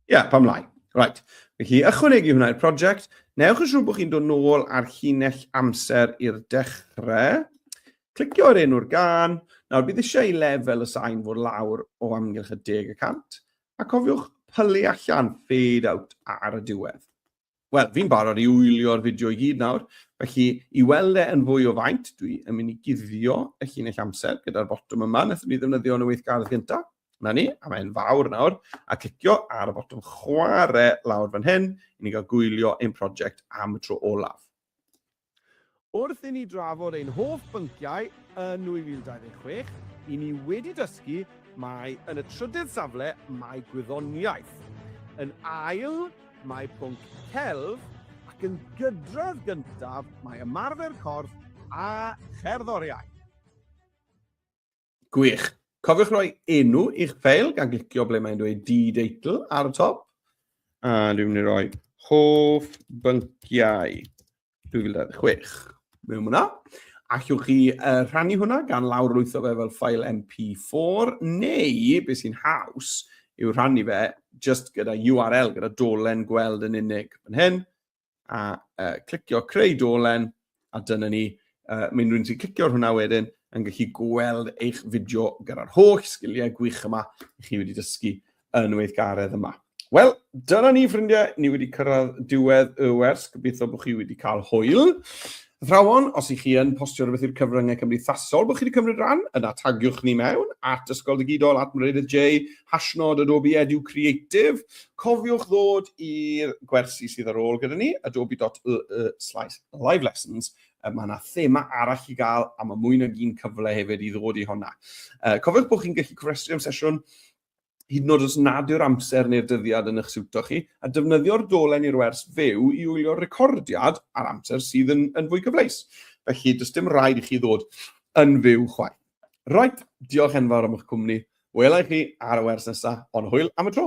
Ie, yeah, pam lai. Right. Felly, ychwanegu hwnna i'r prosiect. Newch yn siŵr bod chi'n dod nôl ar llinell amser i'r dechrau. Clicio ar enw'r gan. Nawr, bydd eisiau i lefel y sain fod lawr o amgylch y deg y cant. A cofiwch pylu allan, fade out ar y diwedd. Wel, fi'n barod i wylio'r fideo i gyd nawr, felly i weld e yn fwy o faint, dwi yn mynd i guddio y llinell amser gyda'r botwm yma, wnaethon ni ddefnyddio yn y weithgardd gyntaf. Na ni, a mae'n fawr nawr, a clicio ar y botwm chwarae lawr fan hyn, i ni gael gwylio ein prosiect am y tro olaf. Wrth i ni drafod ein hoff bynciau yn 2026, i ni wedi dysgu mai yn y trydydd safle mae gwyddoniaeth, yn ail mae pwnc celf ac yn gydredd gyntaf mae ymarfer corff a cherddoriaeth. Gwych. Cofiwch roi enw i'ch ffeil gan glicio ble mae'n dweud D-Deitle ar y top. A dwi'n mynd i roi hoff bynciau 2026. Mewn hwnna. Allwch chi uh, rhannu hwnna gan lawr lwytho fe fel ffael MP4 neu, beth sy'n haws, yw rhannu fe just gyda URL, gyda dolen gweld yn unig. Yn hyn, a uh, clicio creu dolen, a dyna ni. Uh, Mae'n rhywun sy'n clicio ar hwnna wedyn yn gallu gweld eich fideo gyda'r holl sgiliau gwych yma i chi wedi dysgu yn weithgaredd yma. Wel, dyna ni ffrindiau, ni wedi cyrraedd diwedd y wers, gobeithio bod chi wedi cael hwyl. Athrawon, os y'ch chi yn postio rhywbeth i'r cyfryngau cymdeithasol bod chi wedi cymryd rhan, yna tagiwch ni mewn, at Ysgol Digidol, at Meredydd Jay, hashnod Adobe Edu Creative. Cofiwch ddod i'r gwersi sydd ar ôl gyda ni, adobe.ee slash live lessons, mae yna thema arall i gael a mae mwy nag un cyfle hefyd i ddod i honna. Cofiwch bod chi'n gallu cofrestru am sesiwn hyd yn oed os nad yw'r amser neu'r dyddiad yn eich siwto chi, a defnyddio'r dolen i'r wers fyw i wylio'r recordiad ar amser sydd yn, yn fwy cyfleus. Felly, does dim rhaid i chi ddod yn fyw chwaith. Roet, diolch enfawr am eich cwmni. Wela i chi ar y wers nesaf, ond hwyl am y tro!